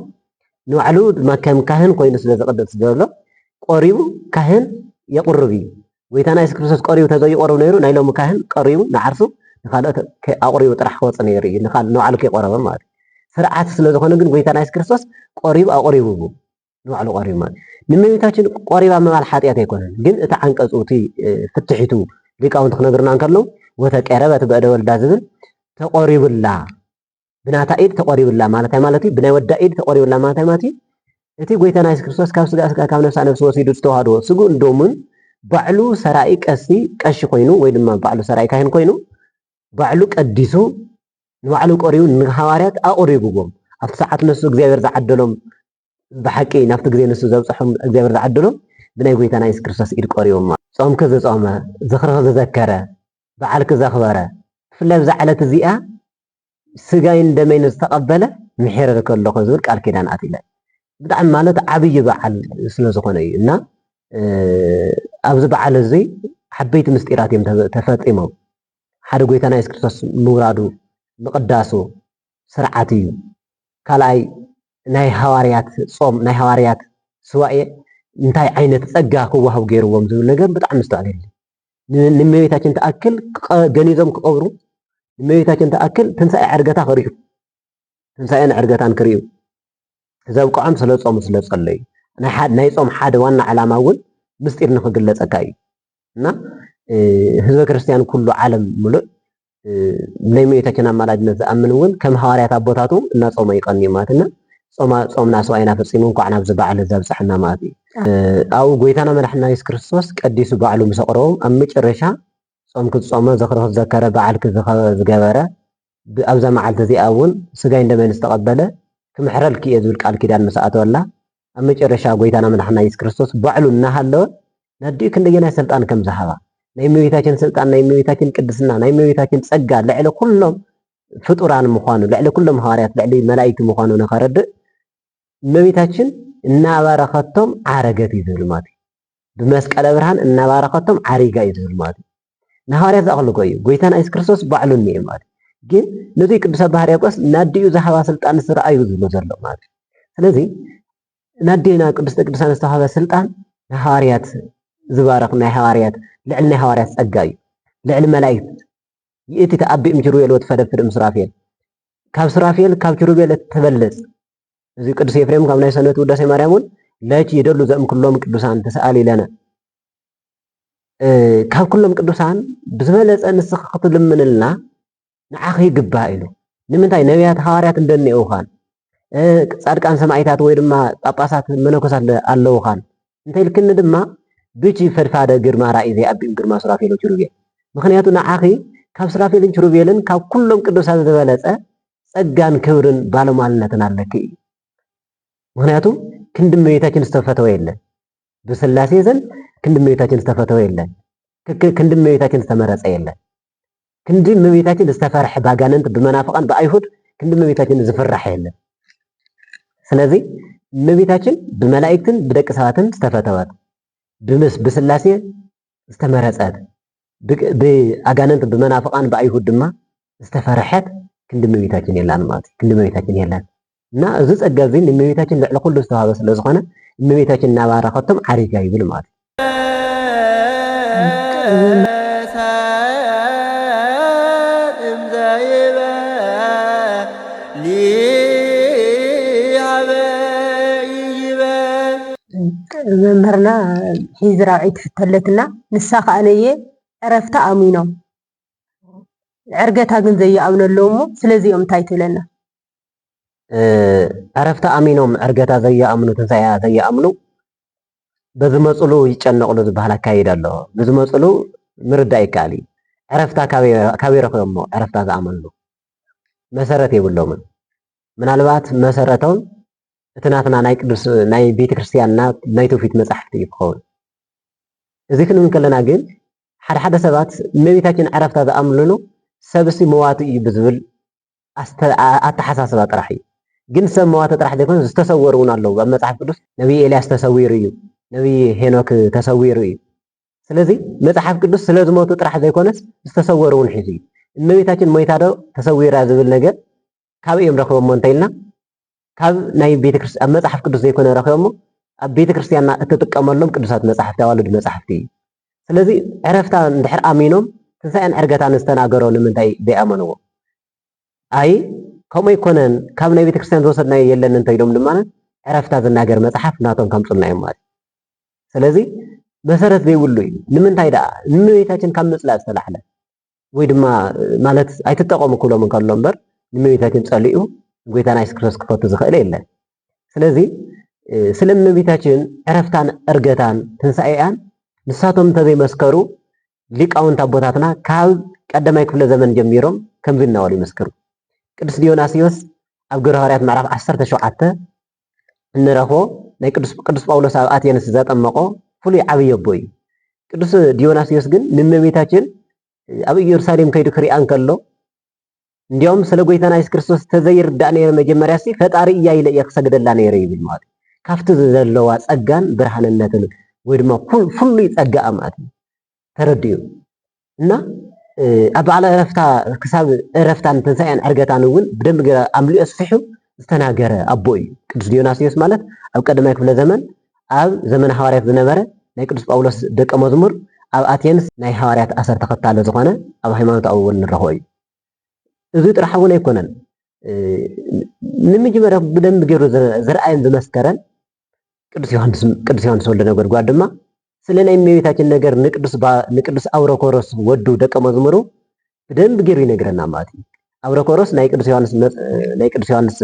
ንባዕሉ ድማ ከም ካህን ኮይኑ ስለ ዝቕደስ ዘሎ ቆሪቡ ካህን የቕርብ እዩ። ጎይታና የሱስ ክርስቶስ ቀሪቡ ተዘይቆርብ ነይሩ ናይ ሎሚ ካህን ቀሪቡ ንዓርሱ ንካልኦት ኣቑሪቡ ጥራሕ ክወፅ ነይሩ እዩ ንባዕሉ ከይቆረበ ማለት እዩ ስርዓት ስለዝኾነ ግን ጎይታና የሱስ ክርስቶስ ቆሪቡ ኣቑሪቡ ንባዕሉ ቀሪቡ ማለት ንእመቤታችን ቆሪባ ምባል ሓጢኣት ኣይኮነን። ግን እቲ ዓንቀጹ እቲ ፍትሒቱ ሊቃውንቲ ክነግርና እንከሎ ወተቀረበት በእደ ወልዳ ዝብል ተቆሪቡላ ብናታ ኢድ ተቆሪቡላ ማለት ማለት እዩ። ብናይ ወዳ ኢድ ተቆሪቡላ ማለት ማለት እዩ። እቲ ጎይታና የሱስ ክርስቶስ ካብ ስጋ ስጋ ካብ ነፍሳ ነፍሲ ወሲዱ ዝተዋህዶ ስግኡ እንዶምን ባዕሉ ሰራኢ ቀሲ ቀሺ ኮይኑ ወይ ድማ ባዕሉ ሰራኢ ካህን ኮይኑ ባዕሉ ቀዲሱ ንባዕሉ ቆሪቡ ንሃዋርያት ኣቁሪብዎም ኣብቲ ሰዓት ነሱ እግዚኣብሔር ዝዓደሎም ብሓቂ ናብቲ ግዜ ንሱ ዘብጽሖም እግዚኣብሔር ዝዓደሎም ብናይ ጎይታና የሱስ ክርስቶስ ኢድ ቆሪቦም ኣሎ። ጾምኪ ዝጾመ፣ ዝኽርኺ ዝዘከረ፣ በዓልኪ ዘኽበረ፣ ብፍላይ ኣብዛ ዕለት እዚኣ ስጋይን ደመይን ዝተቐበለ ምሒረልኪ ኣለኹ ዝብል ቃል ኪዳን ኣትለ ብጣዕሚ ማለት ዓብይ በዓል ስለ ዝኾነ እዩ እና ኣብዚ በዓል እዚ ዓበይቲ ምስጢራት እዮም ተፈጺሞም ሓደ ጎይታና የሱስ ክርስቶስ ምውራዱ ምቕዳሱ ስርዓት እዩ። ካልኣይ ናይ ሃዋርያት ጾም ናይ ሃዋርያት ሱባኤ እንታይ ዓይነት ጸጋ ክዋሃቡ ገይርዎም ዝብል ነገር ብጣዕሚ ምስትውዓል የድሊ። ንእመቤታችን ትኣክል ገኒዞም ክቐብሩ ንእመቤታችን ትኣክል ትንሳኤ ዕርገታ ክርእዩ ትንሳኤን ዕርገታን ክርእዩ ዘብቅዖም ስለ ጾሙ ስለ ጸለዩ ናይ ጾም ሓደ ዋና ዕላማ እውን ምስጢር ንክግለጸካ እዩ እና ህዝበ ክርስቲያን ኩሉ ዓለም ምሉእ ዘይመዩተችን ኣማላድነት ዝኣምን እውን ከም ሃዋርያት ኣቦታቱ እናጾመ ይቀንዩ ማለት እና ጾማ ጾምና ስዋይና ፈጺሙ እንኳዕ ናብዚ በዓል እዚ ኣብጽሐና ማለት እዩ ኣብኡ ጎይታና መድሕና የሱስ ክርስቶስ ቀዲሱ ባዕሉ ምስ ኣቕረቦም ኣብ መጨረሻ ጾም ክትጾመ ዝኽሪ ክትዘከረ በዓል ዝገበረ ኣብዛ መዓልቲ እዚኣ እውን ስጋይ እንደመን ዝተቐበለ ክምሕረልኪ እየ ዝብል ቃል ኪዳን ምስ ኣተወላ ኣብ መጨረሻ ጎይታና መድሓና ኢየሱስ ክርስቶስ ባዕሉ እናሃለወ ናዲኡ ክንደየናይ ስልጣን ከም ዝሃባ ናይ እመቤታችን ስልጣን ናይ እመቤታችን ቅድስና ናይ እመቤታችን ጸጋ ልዕሊ ኩሎም ፍጡራን ምዃኑ ልዕሊ ኩሎም ሃዋርያት ልዕሊ መላእክቲ ምዃኑ ንኸረድእ እመቤታችን እናባረኸቶም ዓረገት እዩ ዝብል ማለት እዩ። ብመስቀለ ብርሃን እናባረኸቶም ዓሪጋ እዩ ዝብል ማለት እዩ። ንሃዋርያት ዝኣኽልጎ እዩ። ጎይታና የሱስ ክርስቶስ ባዕሉ እኒኤ ማለት እዩ። ግን ነዙይ ቅዱስ ኣባ ሕርያቆስ ናዲኡ ዝሃባ ስልጣን ስርኣዩ ዝብሎ ዘሎ ማለት እዩ። ስለዚ ናዴና ቅዱስተ ቅዱሳን ዝተዋህበ ስልጣን ናይ ሃዋርያት ዝባረኽ ናይ ሃዋርያት ልዕሊ ናይ ሃዋርያት ጸጋ እዩ። ልዕሊ መላእክት ይእቲ ተኣቢእም ኪሩቤል ወትፈደፍድ እምሱራፌል ካብ ሱራፌል ካብ ኪሩቤል እትበልጽ እዚ ቅዱስ ኤፍሬም ካብ ናይ ሰነቱ ውዳሴ ማርያም እውን ለኪ ይደሉ ዘእምኩሎም ቅዱሳን ተሰኣሊ ለነ ካብ ኩሎም ቅዱሳን ብዝበለጸ ንስኺ ክትልምንልና ንዓኺ ይግባእ ኢሉ ንምንታይ ነቢያት ሃዋርያት እንደኒኦውኻን ጻድቃን ሰማዒታት ወይ ድማ ጳጳሳት መነኮሳት ኣለውኻን እንተይልክኒ ድማ ብቺ ፈድፋደ ግርማ ራእይ ዘይኣቢም ግርማ ሱራፌሎ ኪሩቤል ምክንያቱ ንዓኺ ካብ ሱራፌልን ኪሩቤልን ካብ ኩሎም ቅዱሳን ዝበለጸ ጸጋን ክብርን ባለሟልነትን ኣለኪ እዩ ምክንያቱ ክንዲ እመቤታችን ዝተፈተወ የለን ብስላሴ ዘንድ ክንድ እመቤታችን ዝተፈተወ የለን። ክንድ እመቤታችን ዝተመረጸ የለን። ክንድ እመቤታችን ዝተፈርሐ ባጋነንት ብመናፍቃን ብኣይሁድ ክንድ እመቤታችን ዝፍራሕ የለን። ስለዚ እመቤታችን ብመላእክትን ብደቂ ሰባትን ዝተፈተወት ብስላሴ ዝተመረጸት፣ ብኣጋንንት ብመናፍቃን ብኣይሁድ ድማ ዝተፈርሐት ክንዲ እመቤታችን የላን ማለት እዩ። ክንዲ እመቤታችን የለን እና እዚ ጸጋ እዚ ንእመቤታችን ልዕሊ ኩሉ ዝተዋህበ ስለ ዝኾነ እመቤታችን እናባረኸቶም ዓሪጋ ይብል ማለት እዩ። መምህርና ሒዚ ራብዐይቲ ሕቶ ኣለትና ንሳ ከዓ ነየ ዕረፍቲ ኣሚኖም ዕርገታ ግን ዘይኣምኑ ኣለዉ እሞ ስለዚኦም እንታይ ትብለና? ዕረፍቲ ኣሚኖም ዕርገታ ዘይኣምኑ ትንሳኤያ ዘይኣምኑ በዝመፅሉ ይጨነቕሉ ዝበሃል ኣካይድ ኣሎ። ብዝመፅሉ ምርዳእ ይከኣል እዩ። ዕረፍታ ካበይ ረኺቦም እሞ ዕረፍታ ዝኣመንሉ መሰረት የብሎምን። ምናልባት መሰረቶም እቲ ናትና ናይ ቅዱስ ናይ ቤተ ክርስቲያንና ናይ ትውፊት መጻሕፍቲ እዩ ክኸውን። እዚ ክንብል ከለና ግን ሓደ ሓደ ሰባት እመቤታችን ዕረፍታ ዝኣምልሉ ሰብሲ መዋቲ እዩ ብዝብል ኣተሓሳስባ ጥራሕ እዩ። ግን ሰብ መዋቲ ጥራሕ ዘይኮነ ዝተሰወሩ እውን ኣለዉ። ኣብ መጽሓፍ ቅዱስ ነቢይ ኤልያስ ተሰዊሩ እዩ፣ ነቢይ ሄኖክ ተሰዊሩ እዩ። ስለዚ መጽሓፍ ቅዱስ ስለ ዝሞቱ ጥራሕ ዘይኮነስ ዝተሰወሩ እውን ሒዙ እዩ። እመቤታችን ሞይታ ዶ ተሰዊራ ዝብል ነገር ካበይ እዮም ረኺቦሞ እንተኢልና ካብ ናይ ቤተክርስትያን ኣብ መጽሓፍ ቅዱስ ዘይኮነ ረኺቦሞ ኣብ ቤተክርስትያንና እትጥቀመሎም ቅዱሳት መጽሓፍቲ ኣዋልድ መጽሓፍቲ እዩ። ስለዚ ዕረፍታ እንድሕር ኣሚኖም ትንሳኤን ዕርገታን ዝተናገሮ ንምንታይ ዘይኣመንዎ? ኣይ ከምኡ ኣይኮነን ካብ ናይ ቤተክርስትያን ዝወሰድናዮ የለን እንተኢሎም ድማ ዕረፍታ ዝናገር መጽሓፍ ናቶም ከምጽልና እዮም ማለት ስለዚ መሰረት ዘይብሉ እዩ ንምንታይ ደኣ ንእመቤታችን ካብ ምጽላእ ዝተላዕለ ወይ ድማ ማለት ኣይትጠቐሙ ክብሎም እንከሎ እምበር ንእመቤታችን ጸሊኡ ጎይታና የሱስ ክርስቶስ ክፈቱ ዝኽእል የለን። ስለዚ ስለ እመቤታችን ዕረፍታን ዕርገታን ትንሣኤኣን ንሳቶም እንተዘይመስከሩ ሊቃውንት ኣቦታትና ካብ ቀዳማይ ክፍለ ዘመን ጀሚሮም ከምዚ እናበሉ ይመስክሩ። ቅዱስ ዲዮናስዮስ ኣብ ግብረ ሃዋርያት ምዕራፍ 17 እንረኽቦ ናይ ቅዱስ ጳውሎስ ኣብ ኣቴንስ ዘጠመቖ ፍሉይ ዓብዪ ኣቦ እዩ። ቅዱስ ዲዮናስዮስ ግን ንእመቤታችን ኣብ ኢየሩሳሌም ከይዱ ክሪኣ እንከሎ እንዲያውም ስለ ጎይታና የሱስ ክርስቶስ ተዘይርዳእ ነይረ መጀመርያ ሲ ፈጣሪ እያ ኢለ እየ ክሰግደላ ነይረ ይብል ማለት ካብቲ ዘለዋ ጸጋን ብርሃንነትን ወይ ድማ ፍሉይ ጸጋኣ ማለት እዩ ተረዲኡ እና ኣብ በዓል ዕረፍታ ክሳብ ዕረፍታን ትንሳኤን ዕርገታን እውን ብደንብ ገይረ ኣምሊኦ ኣስፊሑ ዝተናገረ ኣቦ እዩ ቅዱስ ዲዮናስዮስ ማለት ኣብ ቀዳማይ ክፍለ ዘመን ኣብ ዘመነ ሃዋርያት ዝነበረ ናይ ቅዱስ ጳውሎስ ደቀ መዝሙር ኣብ ኣቴንስ ናይ ሃዋርያት ኣሰር ተኸታለ ዝኾነ ኣብ ሃይማኖታዊ እውን ንረኽቦ እዩ እዚ ጥራሕ እውን ኣይኮነን ንምጅመረ ብደንብ ገይሩ ዝርኣየን ዝመስከረን ቅዱስ ዮሐንስ ወልደ ነጎድጓድ ድማ ስለ ናይ እመቤታችን ነገር ንቅዱስ አውሮኮሮስ ወዱ ደቀ መዝሙሩ ብደንብ ገይሩ ይነግረና ማለት እዩ። አውሮኮሮስ ናይ ቅዱስ ዮሐንስ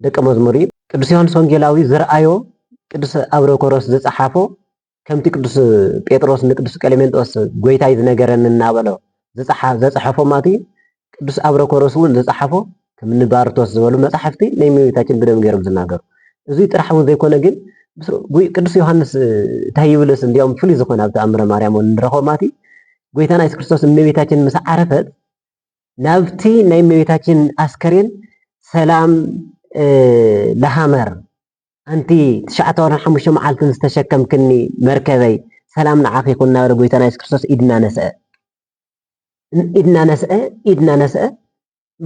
ደቀ መዝሙር እዩ። ቅዱስ ዮሐንስ ወንጌላዊ ዝርአዮ ቅዱስ አውሮኮሮስ ዝጸሓፎ ከምቲ ቅዱስ ጴጥሮስ ንቅዱስ ቀሌሜንጦስ ጎይታይ ዝነገረኒ እናበሎ ዘጸሐፎ ማቲ ቅዱስ ኣብረኮሮስ እውን ዝጸሓፎ ከም ንባርቶስ ዝበሉ መጻሕፍቲ ናይ እመቤታችን ብደም ገይሮም ዝናገሩ እዙይ ጥራሕ እውን ዘይኮነ ግን ቅዱስ ዮሃንስ እንታይ ይብልስ እንዲኦም ፍሉይ ዝኾነ ኣብ ተኣምረ ማርያም እውን ንረኽቦ ማቲ ጎይታና የሱስ ክርስቶስ እመቤታችን ምስ ዓረፈት ናብቲ ናይ እመቤታችን ኣስከሬን ሰላም ለሃመር ኣንቲ ትሽዓተ ወርሕን ሓሙሽተ መዓልትን ዝተሸከምክኒ መርከበይ፣ ሰላም ንዓኺ ይኹን እናበለ ጎይታና የሱስ ክርስቶስ ኢድ እናነስዐ ኢድ እናነስዐ ኢድ እናነስዐ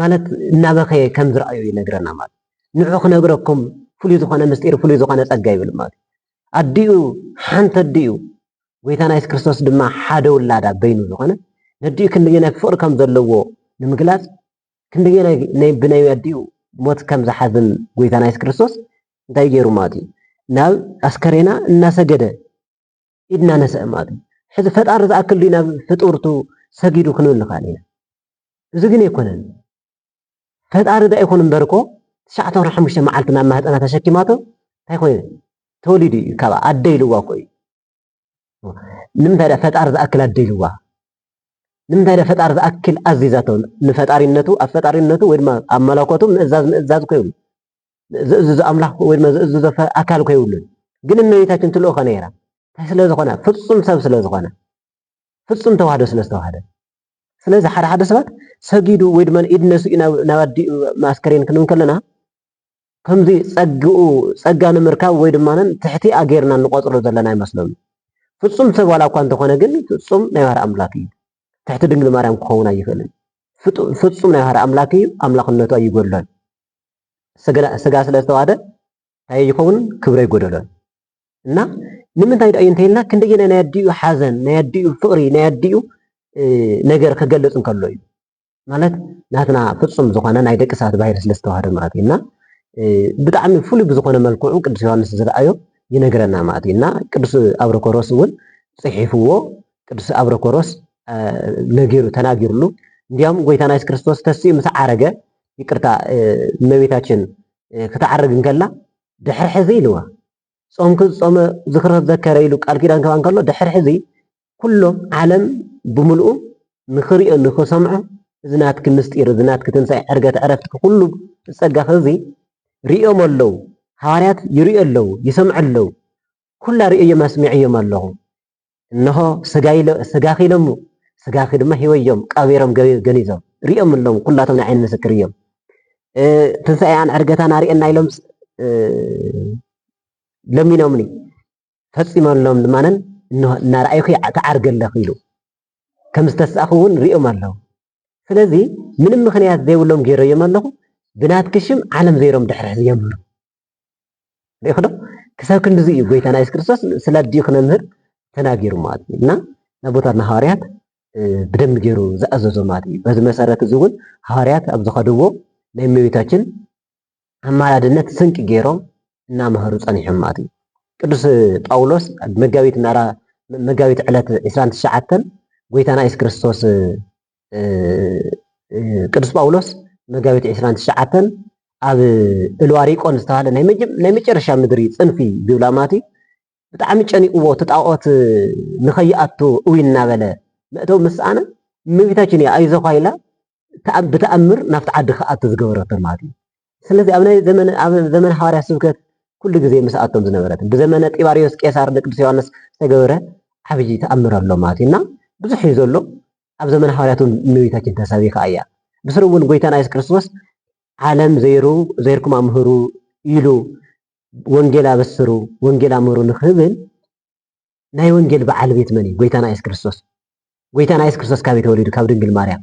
ማለት እናበኸየ ከም ዝረኣዮ ይነግረና ማለት ንዑ ክነግረኩም ፍሉይ ዝኾነ ምስጢር ፍሉይ ዝኾነ ጸጋ ይብል ማለት ኣዲኡ ሓንቲ ኣዲኡ ጎይታና የሱስ ክርስቶስ ድማ ሓደ ውላዳ በይኑ ዝኾነ ነዲኡ ክንደየናይ ፍቕሪ ከም ዘለዎ ንምግላጽ ክንደየናይ ብናይ ኣዲኡ ሞት ከም ዝሓዝን ጎይታና የሱስ ክርስቶስ እንታይ ገይሩ ማለት እዩ ናብ ኣስከሬና እናሰገደ ኢድ እናነስአ ማለት እዩ ሕዚ ፈጣሪ ዝኣክል ድዩ ናብ ፍጡርቱ ሰጊዱ ክንብል ንኽእል ኢና እዚ ግን ኣይኮነን ፈጣሪ ዶ ኣይኮነ እምበር እኮ ትሽዓተ ወርሒ ሓሙሽተ መዓልቲ ናብ ማህፀና ተሸኪማቶ እንታይ ኮይኑ ተወሊዱ እዩ ካብኣ ኣደ ኢልዋ እኮ እዩ ንምንታይ ድኣ ፈጣሪ ዝኣክል ኣደልዋ ንምንታይ ድኣ ፈጣሪ ዝኣክል ኣዚዛቶ ንፈጣሪነቱ ኣብ ፈጣሪነቱ ወይ ድማ ኣብ መለኮቱ ምእዛዝ ምእዛዝ እኮ ይብሉ ዝእዝዞ ኣምላኽ ወይ ድማ ዝእዝዞ ኣካል እኮ ይብሉን ግን እመቤታችን ትልእኾ ነይራ እንታይ ስለ ዝኾነ ፍጹም ሰብ ስለ ዝኾነ ፍጹም ተዋህዶ ስለ ዝተዋህደ ስለዚ ሓደ ሓደ ሰባት ሰጊዱ ወይ ድማ ኢድ ነስኡ ናብ ኣዲኡ ማስከሬን ክንብል ከለና ከምዚ ጸግኡ ጸጋ ንምርካብ ወይ ድማ ትሕቲ ኣገይርና እንቆጽሮ ዘለና ኣይመስሎምን። ፍጹም ሰብ ዋላ እኳ እንተኾነ ግን ፍጹም ናይ ባህሪ ኣምላክ እዩ። ትሕቲ ድንግል ማርያም ክኸውን ኣይኽእልን። ፍጹም ናይ ባህሪ ኣምላክ እዩ፣ ኣምላኽነቱ ኣይጎድሎን። ስጋ ስለ ዝተዋህደ እንታይ ኣይኸውንን ክብሪ ኣይጎደሎን። እና ንምንታይ ድኣዩ እንተይልና ክንደየናይ ናይ ኣዲኡ ሓዘን፣ ናይ ኣዲኡ ፍቕሪ፣ ናይ ኣዲኡ ነገር ክገልጽ እንከሎ እዩ። ማለት ናትና ፍፁም ዝኾነ ናይ ደቂ ሰባት ባህሪ ስለ ዝተዋህደ ማለት እዩ እና ብጣዕሚ ፍሉይ ብዝኾነ መልክዑ ቅዱስ ዮሐንስ ዝረኣዮ ይነግረና ማለት እዩ እና ቅዱስ ኣብረኮሮስ እውን ፅሒፍዎ ቅዱስ ኣብረኮሮስ ነጊሩ ተናጊርሉ እንዲያውም ጎይታና የሱስ ክርስቶስ ተስኡ ምስ ዓረገ ይቅርታ እመቤታችን ክትዓርግ እንከላ ድሕሪ ሕዚ ኢልዋ ጾምኪ ዝጾመ ዝኽረ ዘከረ ኢሉ ቃል ኪዳን ከባ እንከሎ ድሕሪ ሕዚ ኩሉ ዓለም ብምልኡ ንኽሪኦ ንኽሰምዖ እዚ ናትኪ ምስጢር እዚ ናትኪ ትንሳኤ ዕርገት ዕረፍትኪ ኩሉ ጸጋኺ እዚ ሪኦሞ ኣለዉ ሃዋርያት ይሪኡ ኣለዉ ይሰምዑ ኣለዉ ኩላ ሪኦዮም ኣስሚዐዮም ኣለኹ እንሆ ስጋኺ ኢሎሙ ስጋኺ ድማ ሂወዮም ቀቢሮም ገኒዞም ሪኦም ኣለዉ ኩላቶም ናይ ዓይኒ ምስክር እዮም ትንሳኤኣን ዕርገታን ኣርእየና ኢሎም ለሚኖምኒ ፈጺመሎም ድማ እንሆ እናረኣዩኺ ትዓርጊ ኣለኺ ኢሉ ከም ዝተስኣኹ እውን ርእዮም ኣለዉ። ስለዚ ምንም ምኽንያት ዘይብሎም ገይረዮም ኣለኹ፣ ብናትኪ ሽም ዓለም ዘይሮም ድሕሪ ሕዚ የምህሩ። ርኢኹዶ ክሳብ ክንድዚ እዩ ጎይታና የሱስ ክርስቶስ ስለ ኣዲኡ ክነምህር ተናጊሩ ማለት እዩ እና ናቦታትና ሃዋርያት ብደንብ ገይሩ ዝኣዘዞ ማለት እዩ በዚ መሰረት እዚ እውን ሃዋርያት ኣብ ዝኸድዎ ናይ እመቤታችን ኣማላድነት ስንቂ ገይሮም እናመሀሩ ፀኒሖም ማለት እዩ። ቅዱስ ጳውሎስ ኣብ መጋቢት ምዕራ መጋቢት ዕለት ዕስራን ትሽዓተን ጎይታና ኢየሱስ ክርስቶስ ቅዱስ ጳውሎስ መጋቢት ዕስራን ትሽዓተን ኣብ እልዋሪቆን ዝተባሃለ ናይ መጨረሻ ምድሪ ፅንፊ ዝብላ ማለት እዩ ብጣዕሚ ጨኒቕዎ እቲ ጣዖት ንኸይኣቱ እው እናበለ መእተዊ ምስኣነ እመቤታችን እያ ኣይዞኻ ኢላ ብተኣምር ናብቲ ዓዲ ክኣቱ ዝገበረቶም ማለት እዩ። ስለዚ ኣብ ናይ ዘመነ ኣብ ዘመነ ሃዋርያ ስብከት ኩሉ ግዜ ምስኣቶም ዝነበረት ብዘመነ ጢባርዮስ ቄሳር ንቅዱስ ዮሐንስ ዝተገበረ ዓብይ ተኣምር ኣሎ ማለት እዩና ብዙሕ እዩ ዘሎ ኣብ ዘመነ ሃዋርያት እውን እመቤታችን ተሰቢኻ እያ ብስሩ እውን ጎይታና የሱስ ክርስቶስ ዓለም ዘይሩ ዘይርኩም ኣምህሩ ኢሉ ወንጌል ኣበስሩ ወንጌል ኣምህሩ ንክብል ናይ ወንጌል በዓል ቤት መን እዩ? ጎይታና የሱስ ክርስቶስ። ጎይታና የሱስ ክርስቶስ ካበይ ተወሊዱ? ካብ ድንግል ማርያም።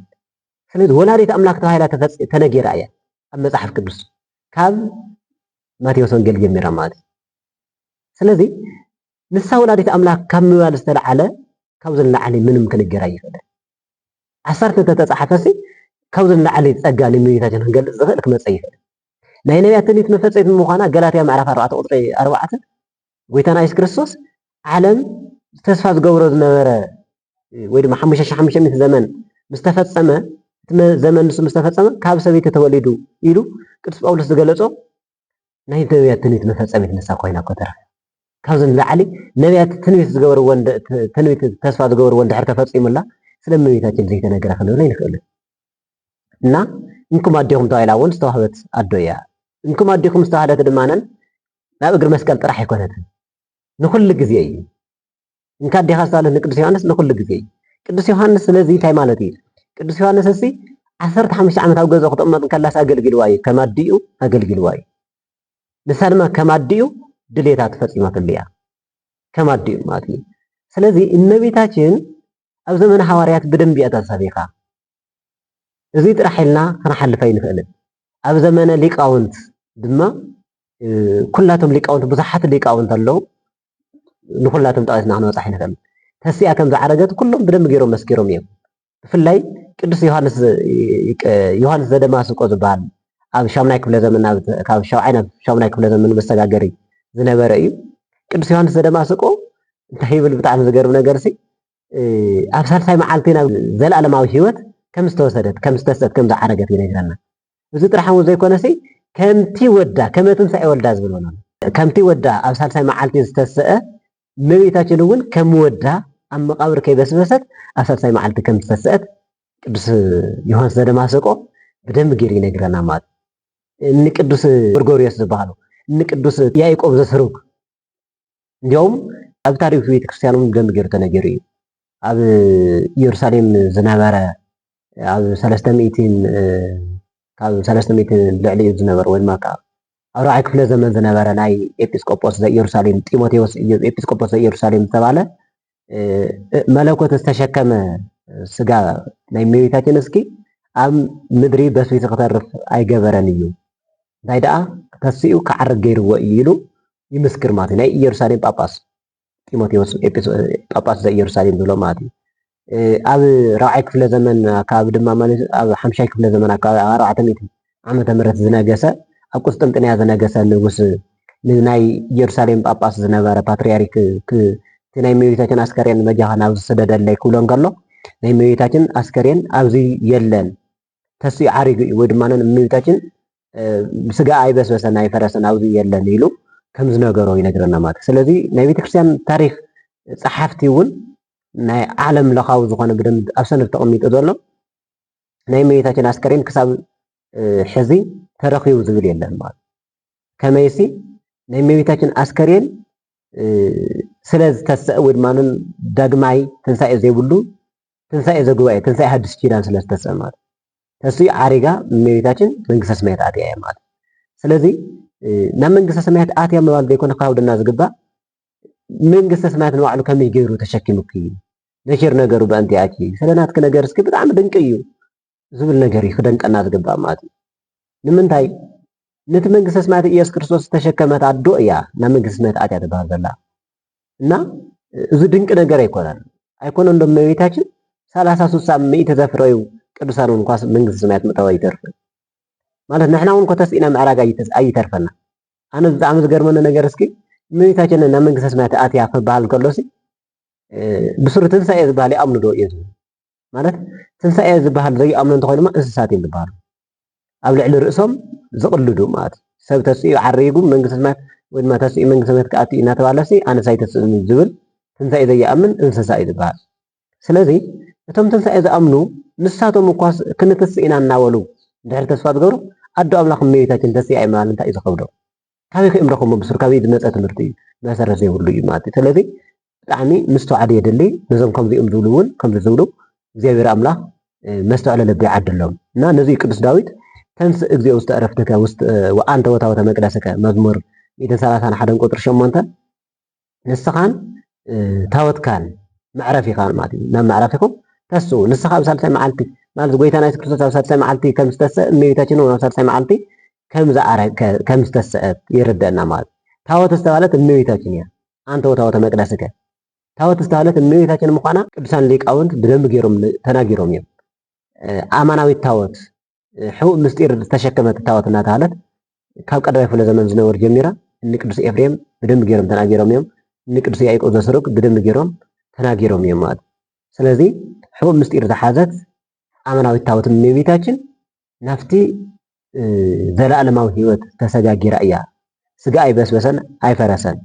ስለዚ ወላዲት ኣምላክ ተባሂላ ተነጊራ እያ ኣብ መጽሓፍ ቅዱስ ካብ ማቴዎስ ወንጌል ጀሚራ ማለት እዩ። ስለዚ ንሳ ወላዲት ኣምላክ ካብ ምባል ዝተለዓለ ካብዚ ንላዕሊ ምንም ክንገር ኣይኽእልን። ዓሰርተ እንተተፃሓፈሲ ካብዚ ንላዕሊ ፀጋ ንእመቤታችን ክንገልፅ ዝኽእል ክመፀ ይኽእል። ናይ ነቢያት ትንቢት መፈፀሚት ምዃና ገላትያ ምዕራፍ ኣርባዕተ ቁፅሪ ኣርባዕተ ጎይታና የሱስ ክርስቶስ ዓለም ተስፋ ዝገብሮ ዝነበረ ወይ ድማ ሓሙሽተ ሽሕ ሓሙሽተ ሚእቲ ዘመን ምስ ተፈጸመ እቲ ዘመን ንሱ ምስ ተፈጸመ ካብ ሰበይቲ ተወሊዱ ኢሉ ቅዱስ ጳውሎስ ዝገለጾ ናይ ነቢያት ትንቢት መፈጸሚት ንሳ ኮይና እኮ ተረፈ ካብዚ ንላዕሊ ነቢያት ትንቢት ዝገበርዎን ትንቢት ተስፋ ዝገበርዎን ድሕር ተፈጺሙላ ስለ እመቤታችን ዘይተነገረ ክንብል ኣይንኽእልን እና እንኩም ኣዴኹም ተባሂላ እውን ዝተዋህበት ኣዶ እያ እንኩም ኣዴኹም ዝተባህለት ድማነን ናብ እግሪ መስቀል ጥራሕ ኣይኮነትን፣ ንኹሉ ግዜ እዩ። እንካ ኣዴኻ ሳልህ ንቅዱስ ዮሃንስ ንኹሉ ግዜ እዩ። ቅዱስ ዮሃንስ ስለዚ እንታይ ማለት እዩ? ቅዱስ ዮሃንስ እሲ ዓሰርተ ሓሙሽተ ዓመት ኣብ ገዛኡ ክትቕመጥ እንከላስ ኣገልጊልዋ እዩ፣ ከም ኣዲኡ ኣገልጊልዋ እዩ። ንሳ ድማ ከም ኣዲኡ ድሌታ ተፈጺማትሉ እያ፣ ከም ኣዲኡ ማለት እዩ። ስለዚ እመቤታችን ኣብ ዘመነ ሃዋርያት ብደንቢ እያ ተሰቢኻ፣ እዚ ጥራሕ ኢልና ክንሓልፍ ኣይንኽእልን። ኣብ ዘመነ ሊቃውንት ድማ ኩላቶም ሊቃውንት ብዙሓት ሊቃውንት ኣለዉ። ንኹላቶም ጠቒስና ክንበጽሕ ኣይንኽእልን። ተሲኣ ከም ዝዓረገት ኩሎም ብደንቢ ገይሮም መስኪሮም እዮም። ብፍላይ ቅዱስ ዮሃንስ ዮሃንስ ዘደማስቆ ዝበሃል ኣብ ሻምናይ ክፍለ ዘመን ካብ ሻብዓይ ናብ ሻምናይ ክፍለ ዘመን መሰጋገሪ ዝነበረ እዩ። ቅዱስ ዮሃንስ ዘደማስቆ እንታይ ይብል ብጣዕሚ ዝገርም ነገር ሲ ኣብ ሳልሳይ መዓልቲ ናብ ዘለኣለማዊ ህይወት ከም ዝተወሰደት ከም ዝተሰት ከም ዝዓረገት ይነግረና። እዚ ጥራሕ እውን ዘይኮነሲ ከምቲ ወዳ ከመ ትንሣኤ ወልዳ ዝብል ሆኖ ከምቲ ወዳ ኣብ ሳልሳይ መዓልቲ ዝተሰአ እመቤታችን እውን ከም ወዳ ኣብ መቃብር ከይበስበሰት ኣብ ሳልሳይ መዓልቲ ከም ዝተሰአት ቅዱስ ዮሐንስ ዘደማሰቆ ብደንብ ገይሩ ይነግረና ማለት ንቅዱስ ጎርጎርዮስ ዝበሃሉ ንቅዱስ ያዕቆብ ዘስሩግ እንዲያውም ኣብ ታሪኽ ቤተክርስትያን እውን ብደንቢ ገይሩ ተነጊሩ እዩ። ኣብ ኢየሩሳሌም ዝነበረ ኣብ ሰለስተ ሚእቲን ካብ ሰለስተ ሚእቲ ልዕሊ እዩ ዝነበረ ወይ ድማ ካብ ኣብ ራዕይ ክፍለ ዘመን ዝነበረ ናይ ኤጲስቆጶስ ዘኢየሩሳሌም ጢሞቴዎስ ኢየሱስ ኤጲስቆጶስ ዘኢየሩሳሌም ዝተባለ መለኮት ዝተሸከመ ስጋ ናይ እመቤታችን እስኪ ኣብ ምድሪ በስቢሱ ክተርፍ ኣይገበረን እዩ እንታይ ደኣ ተሲኡ ክዓርግ ገይርዎ እዩ ኢሉ ይምስክር ማለት እዩ ናይ ኢየሩሳሌም ጳጳስ ጢሞቴዎስ ጳጳስ ዘኢየሩሳሌም ዝብሎ ማለት እዩ ኣብ ራብዓይ ክፍለ ዘመን ኣካባቢ ድማ ማለት ኣብ ሓምሻይ ክፍለ ዘመን ኣካባቢ ኣብ ኣርባዕተ ሚእቲ ዓመተ ምሕረት ዝነገሰ ኣብ ቁስጥንጥንያ ዝነገሰ ንጉስ ንናይ ኢየሩሳሌም ጳጳስ ዝነበረ ፓትርያርክ እቲ ናይ እመቤታችን ኣስከሬን በጃኻ ናብ ዝስደደለይ ክብሎ እንከሎ ናይ እመቤታችን ኣስከሬን ኣብዚ የለን ተሲኡ ዓሪጉ እዩ ወይ ድማ እመቤታችን ስጋ ኣይበስበሰን ኣይፈረሰን ኣብዚ የለን ኢሉ ከም ዝነገሮ ይነግረና ማለት እዩ። ስለዚ ናይ ቤተክርስትያን ታሪክ ጸሓፍቲ እውን ናይ ዓለም ለኻዊ ዝኾነ ብደንብ ኣብ ሰነድ ተቐሚጡ ዘሎ ናይ እመቤታችን ኣስከሬን ክሳብ ሕዚ ተረኺቡ ዝብል የለን ማለት ከመይሲ ናይ እመቤታችን ኣስከሬን ስለ ዝተሰአ ወይ ድማ ዳግማይ ትንሳኤ ዘይብሉ ትንሳኤ ዘጉባኤ ትንሳኤ ሓድሽ ኪዳን ስለ ዝተሰአ ማለት ተስኡ ዓሪጋ እመቤታችን መንግስተ ሰማያት ኣትያ እያ ማለት ስለዚ ናብ መንግስተ ሰማያት ኣትያ ምባል ዘይኮነ ካብደና ዝግባእ መንግስተ ሰማያት ንባዕሉ ከመይ ገይሩ ተሸኪሙኪ ነኪር ነገሩ በእንቲኣኪ ስለ ናትኪ ነገር እስኪ ብጣዕሚ ድንቂ እዩ ዝብል ነገር እዩ ክደንቀና ዝግባእ ማለት እዩ ንምንታይ ነቲ መንግስተ ሰማያት ኢየሱስ ክርስቶስ ዝተሸከመት ኣዶ እያ ናብ መንግስተ ሰማያት ኣትያ ትበሃል ዘላ እና እዚ ድንቂ ነገር ኣይኮነን ኣይኮነ እንዶ እመቤታችን ሰላሳ ስሳ ሚእቲ ዘፍረዩ ቅዱሳን እውን እንኳስ መንግስተ ሰማያት ምእታው ኣይተርፍን ማለት ንሕና እውን ኮተስኢና ምዕራግ ኣይተርፈና ኣነ ብጣዕሚ ዝገርመኒ ነገር እስኪ እመቤታችን ናብ መንግስተ ሰማያት ኣትያ ክበሃል ከሎ ሲ ብስሩ ትንሳኤ ዝበሃል ይኣምኑ ዶ እዮም ዝብሉ ማለት ትንሳኤ ዝበሃል ዘይኣምኑ እንተኾይኑ ድማ እንስሳት እዮም ዝበሃሉ ኣብ ልዕሊ ርእሶም ዝቕልዱ ማለት እዩ ሰብ ተስኡ ዓሪጉ መንግስቲ ሰማያት ወይ ድማ ተስኡ መንግስቲ ሰማያት ክኣቱ እዩ እናተባሃለሲ ኣነስ ኣይተስእን ዝብል ትንሳኤ ዘይኣምን እንስሳ እዩ ዝበሃል ስለዚ እቶም ትንሳኤ ዝኣምኑ ንሳቶም እኳስ ክንትስእ ኢና እናበሉ ድሕሪ ተስፋ ዝገብሩ ኣዶ ኣምላኽ እመቤታችን ተስኣ ምባል እንታይ እዩ ዝኸብዶ ካበይ ከ ረክቦ ብሱር ካበይ ዝመፀ ትምህርቲ እዩ መሰረት ዘይብሉ እዩ ማለት እዩ ስለዚ ብጣዕሚ ምስትውዓል የድሊ ነዞም ከምዚኦም ዝብሉ እውን ከምዚ ዝብሉ እግዚኣብሔር ኣምላክ መስተውዕለ ልቢ ይዓድሎም እና ነዚ ቅዱስ ዳዊት ተንስ እግዚኦ ውስተ ዕረፍትከ ውስጥ ወአንተ ወታወተ መቅደስከ መዝሙር ሚእትን ሰላሳን ሓደን ቁፅሪ ሸሞንተ ንስኻን ታወትካን መዕረፊኻን ማለት እዩ ናብ መዕረፊኹም ተስኡ ንስኻ ኣብ ሳልሳይ መዓልቲ ማለት ጎይታና የሱስ ክርስቶስ ኣብ ሳልሳይ መዓልቲ ከም ዝተሰእ እመቤታችን እውን ኣብ ሳልሳይ መዓልቲ ከም ዝኣረግ ከም ዝተሰእት ይርደና ማለት ታወት ዝተባለት እመቤታችን እያ አንተ ወታወተ መቅደስከ ታወት ዝተባለት እመቤታችን ምዃና ቅዱሳን ሊቃውንት ብደንብ ገይሮም ተናጊሮም እዮም ኣማናዊት ታወት ሕቡእ ምስጢር ዝተሸከመት ታወት እናተሃለት ካብ ቀዳማይ ክፍለ ዘመን ዝነበሩ ጀሚራ እኒ ቅዱስ ኤፍሬም ብደንብ ገይሮም ተናጊሮም እዮም። እኒ ቅዱስ ያዕቆብ ዘስሩግ ብደንብ ገይሮም ተናጊሮም እዮም ማለት ስለዚ ሕቡእ ምስጢር ዝሓዘት ኣመናዊት ታወት እመቤታችን ናብቲ ዘለኣለማዊ ህይወት ተሰጋጊራ እያ። ስጋ ኣይበስበሰን ኣይፈረሰን።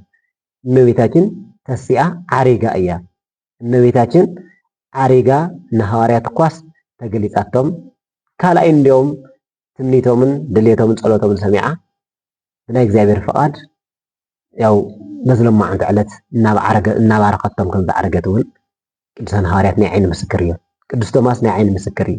እመቤታችን ተሲኣ ዓሪጋ እያ። እመቤታችን ዓሪጋ ንሃዋርያት እኳስ ተገሊጻቶም ካልኣይ እንዲኦም ትምኒቶምን ድሌቶምን ጸሎቶምን ሰሚዓ ብናይ እግዚኣብሔር ፍቓድ ያው በዝለማዓንቲ ዕለት እናባረኸቶም ከም ዝዓረገት እውን ቅዱሳን ሃዋርያት ናይ ዓይኒ ምስክር እዮም። ቅዱስ ቶማስ ናይ ዓይኒ ምስክር እዩ።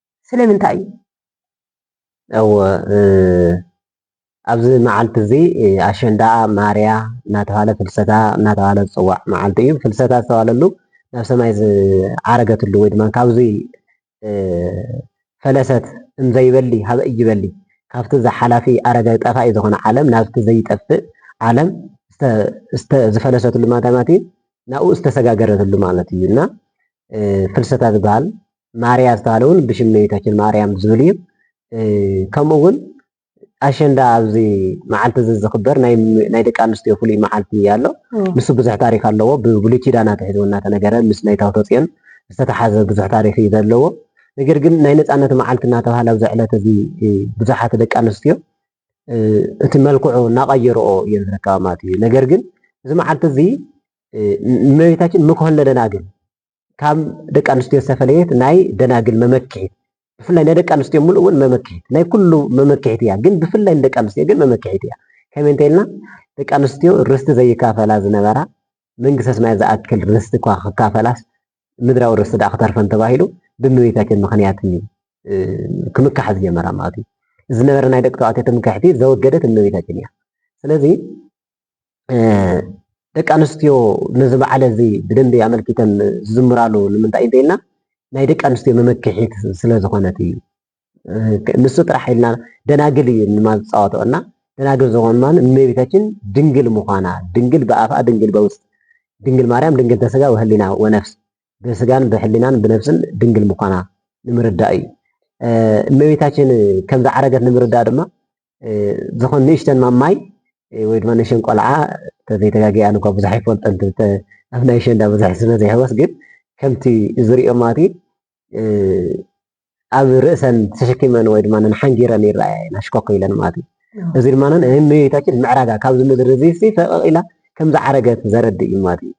ስለምንታይ እዩ? እወ ኣብዚ መዓልቲ እዚ ኣሸንዳ ማርያ እናተባህለ ፍልሰታ እናተባህለ ዝፅዋዕ መዓልቲ እዩ። ፍልሰታ ዝተባህለሉ ናብ ሰማይ ዝዓረገትሉ ወይ ድማ ካብዚ ፈለሰት እምዘይበሊ ሀበ እይበሊ ካብቲ ዝሓላፊ ኣረገ ጠፋኢ ዝኾነ ዓለም ናብቲ ዘይጠፍእ ዓለም ዝፈለሰትሉ ማለት እዩ ናብኡ ዝተሰጋገረትሉ ማለት እዩ እና ፍልሰታ ዝበሃል ማርያ ዝተባህለ እውን ብሽም እመቤታችን ማርያም ዝብል እዩ። ከምኡ እውን ኣሸንዳ ኣብዚ መዓልቲ እዚ ዝኽበር ናይ ደቂ ኣንስትዮ ፍሉይ መዓልቲ ኣሎ ንሱ ብዙሕ ታሪክ ኣለዎ ብብሉይ ኪዳን ኣትሒዙ እናተነገረ ምስ ናይ ታቦተ ፅዮን ዝተተሓዘ ብዙሕ ታሪክ እዩ ዘለዎ ነገር ግን ናይ ነፃነት መዓልቲ እናተባሃለ ኣብዚ ዕለት እዚ ብዙሓት ደቂ ኣንስትዮ እቲ መልክዑ እናቐየርኦ እየን ዝርከባ ማለት እዩ ነገር ግን እዚ መዓልቲ እዚ እመቤታችን ምክሆን ለለና ግን ካብ ደቂ ኣንስትዮ ዝተፈለየት ናይ ደናግል መመክሒት ብፍላይ ናይ ደቂ ኣንስትዮ ምሉእ እውን መመክሒት ናይ ኩሉ መመክሒት እያ፣ ግን ብፍላይ ንደቂ ኣንስትዮ ግን መመክሒት እያ። ከመይ እንተኢልና ደቂ ኣንስትዮ ርስቲ ዘይካፈላ ዝነበራ መንግስተ ሰማያት ዝኣክል ርስቲ እኳ ክካፈላስ ምድራዊ ርስቲ ደኣ ክተርፈን ተባሂሉ ብእመቤታችን ምክንያት እዩ ክምካሕ ዝጀመራ ማለት እዩ። ዝነበረ ናይ ደቂ ተባዕትዮ ትምክሕቲ ዘወገደት እመቤታችን እያ። ስለዚ ደቂ ኣንስትዮ ነዚ በዓል እዚ ብደንቢ ኣመልኪተን ዝዝምራሉ ንምንታይ እንተይልና ናይ ደቂ ኣንስትዮ መመክሒት ስለ ዝኾነት እዩ። ንሱ ጥራሕ ኢልና ደናግል እዩ ድማ ዝፃወተኦ እና ደናግል ዝኾን ድማ እመቤታችን ድንግል ምዃና ድንግል ብኣፍኣ ድንግል በውስጥ ድንግል ማርያም ድንግል ተስጋ ወህሊና ወነፍስ ብስጋን ብሕሊናን ብነፍስን ድንግል ምዃና ንምርዳእ እዩ። እመቤታችን ከም ዝዓረገት ንምርዳእ ድማ ዝኹን ንእሽተን ማማይ ወይ ድማ ንእሽተን ቆልዓ ተዘይተጋጊያ ኣነ እኳ ብዙሕ ኣይፈልጦን ኣብ ናይ ሸንዳ ብዙሕ ስለ ዘይሕወስ ግን ከምቲ ዝሪኦ ማለት ኣብ ርእሰን ተሸኪመን ወይ ድማ ሓንጊረን ይረኣያ ናሽኮክ ኢለን ማለት እዩ እዚ ድማ ንእመቤታችን ምዕራጋ ካብዚ ምድሪ እዚ ፈቐቕ ኢላ ከም ዝዓረገት ዘረድእ እዩ ማለት እዩ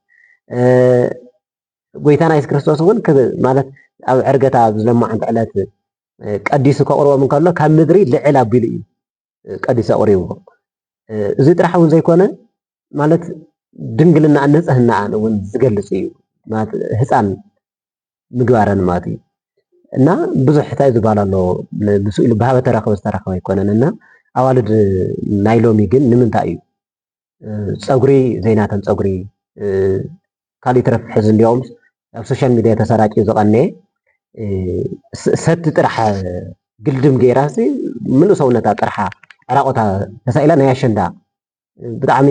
ጎይታና የሱስ ክርስቶስ እውን ማለት ኣብ ዕርገታ ኣብ ዝለማዓንቲ ዕለት ቀዲሱ ከቕርቦም እንከሎ ካብ ምድሪ ልዕል ኣቢሉ እዩ ቀዲሱ ኣቕሪብዎ። እዚ ጥራሕ እውን ዘይኮነ ማለት ድንግልናኣን ንጽህናኣን እውን ዝገልጽ እዩ ማለት ህፃን ምግባረን ማለት እዩ እና ብዙሕ ሕታይ ዝበሃል ኣሎ ምስ ኢሉ ብሃበ ተረክበ ዝተረክበ ኣይኮነን እና ኣዋልድ ናይ ሎሚ ግን ንምንታይ እዩ ፀጉሪ ዘይናተን ፀጉሪ ካልእ ይትረፍ ሕዚ እንዲኦም ኣብ ሶሻል ሚዲያ ተሰራጭዩ ዝቐነየ ሰቲ ጥራሕ ግልድም ገይራ ምሉእ ሰውነታ ጥርሓ ዕራቆታ ተሳኢላ ናይ ኣሸንዳ ብጣዕሚ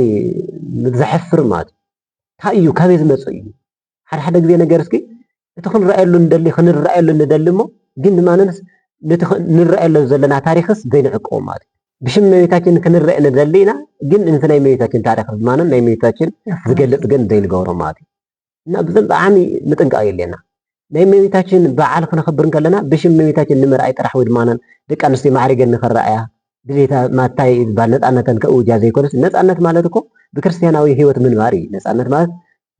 ዘሕፍር ማለት እዩ። እንታይ እዩ ካበይ ዝመፅእ እዩ? ሓደ ሓደ ግዜ ነገር እስኪ እቲ ክንረኣየሉ ንደሊ ክንረኣየሉ ንደሊ እሞ ግን ንማንንስ ነቲ ንረኣየሉ ዘለና ታሪኽስ ዘይንዕቅቦ ማለት እዩ። ብሽም እመቤታችን ክንረእ ንደሊ ኢና፣ ግን ነቲ ናይ እመቤታችን ታሪኽ ድማንን ናይ እመቤታችን ዝገልጽ ግን ዘይንገብሮ ማለት እዩ እና ብዘን ብዓሚ ምጥንቃቕ የድልየና። ናይ እመቤታችን በዓል ክነኽብር እንከለና ብሽም እመቤታችን ንምርኣይ ጥራሕ ወይ ድማንን ደቂ ኣንስትዮ ማዕሪገን ንኽረኣያ ድሌታ ማታይ ዝበሃል ነፃነተን ከእውጃ ዘይኮነስ ነፃነት ማለት እኮ ብክርስትያናዊ ህይወት ምንባር እዩ። ነፃነት ማለት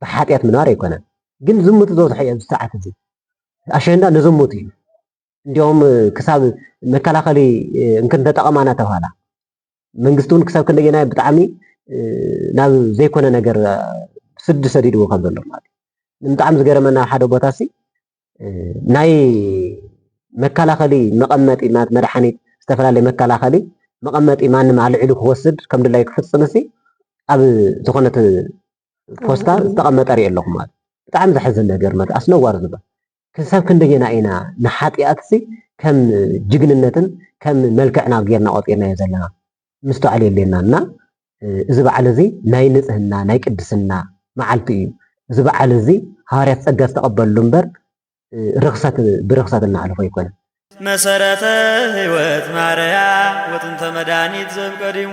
ብሓጢኣት ምንባር ኣይኮነን። ግን ዝሙት ዝበዝሖ እዩ ኣብዚ ሰዓት እዚ ኣሸንዳ ንዝሙት እዩ። እንዲኦም ክሳብ መከላኸሊ እንክንተጠቐማ እናተባህላ መንግስቲ እውን ክሳብ ክንደየናይ ብጣዕሚ ናብ ዘይኮነ ነገር ስዲ ሰዲድዎ ከም ዘሎ ማለት እዩ። ብጣዕሚ ዝገረመና ሓደ ቦታ ሲ ናይ መከላኸሊ መቐመጢ ማለት መድሓኒት ዝተፈላለየ መከላኸሊ መቐመጢ ማንም ኣልዒሉ ክወስድ ከም ድላይ ክፍፅም ሲ ኣብ ዝኾነት ፖስታ ዝተቐመጠ ሪኤ ኣለኹ ማለት ብጣዕሚ ዘሕዝን ነገር ማለት ኣስነዋሪ ዝባ ክሳብ ክንደየና ኢና ንሓጢኣትሲ ከም ጅግንነትን ከም መልክዕና ጌርና ቆፂርናዮ ዘለና ምስተውዓል የድልየና እና እዚ በዓል እዚ ናይ ንፅህና ናይ ቅድስና መዓልቲ እዩ እዚ በዓል እዚ ሃዋርያት ፀጋ ዝተቐበልሉ እምበር ርኽሰት ብርኽሰት እናሕለፎ ኣይኮነ መሰረተ ህይወት ማርያ ወጥንተ መድኃኒት ዘብቀዲሙ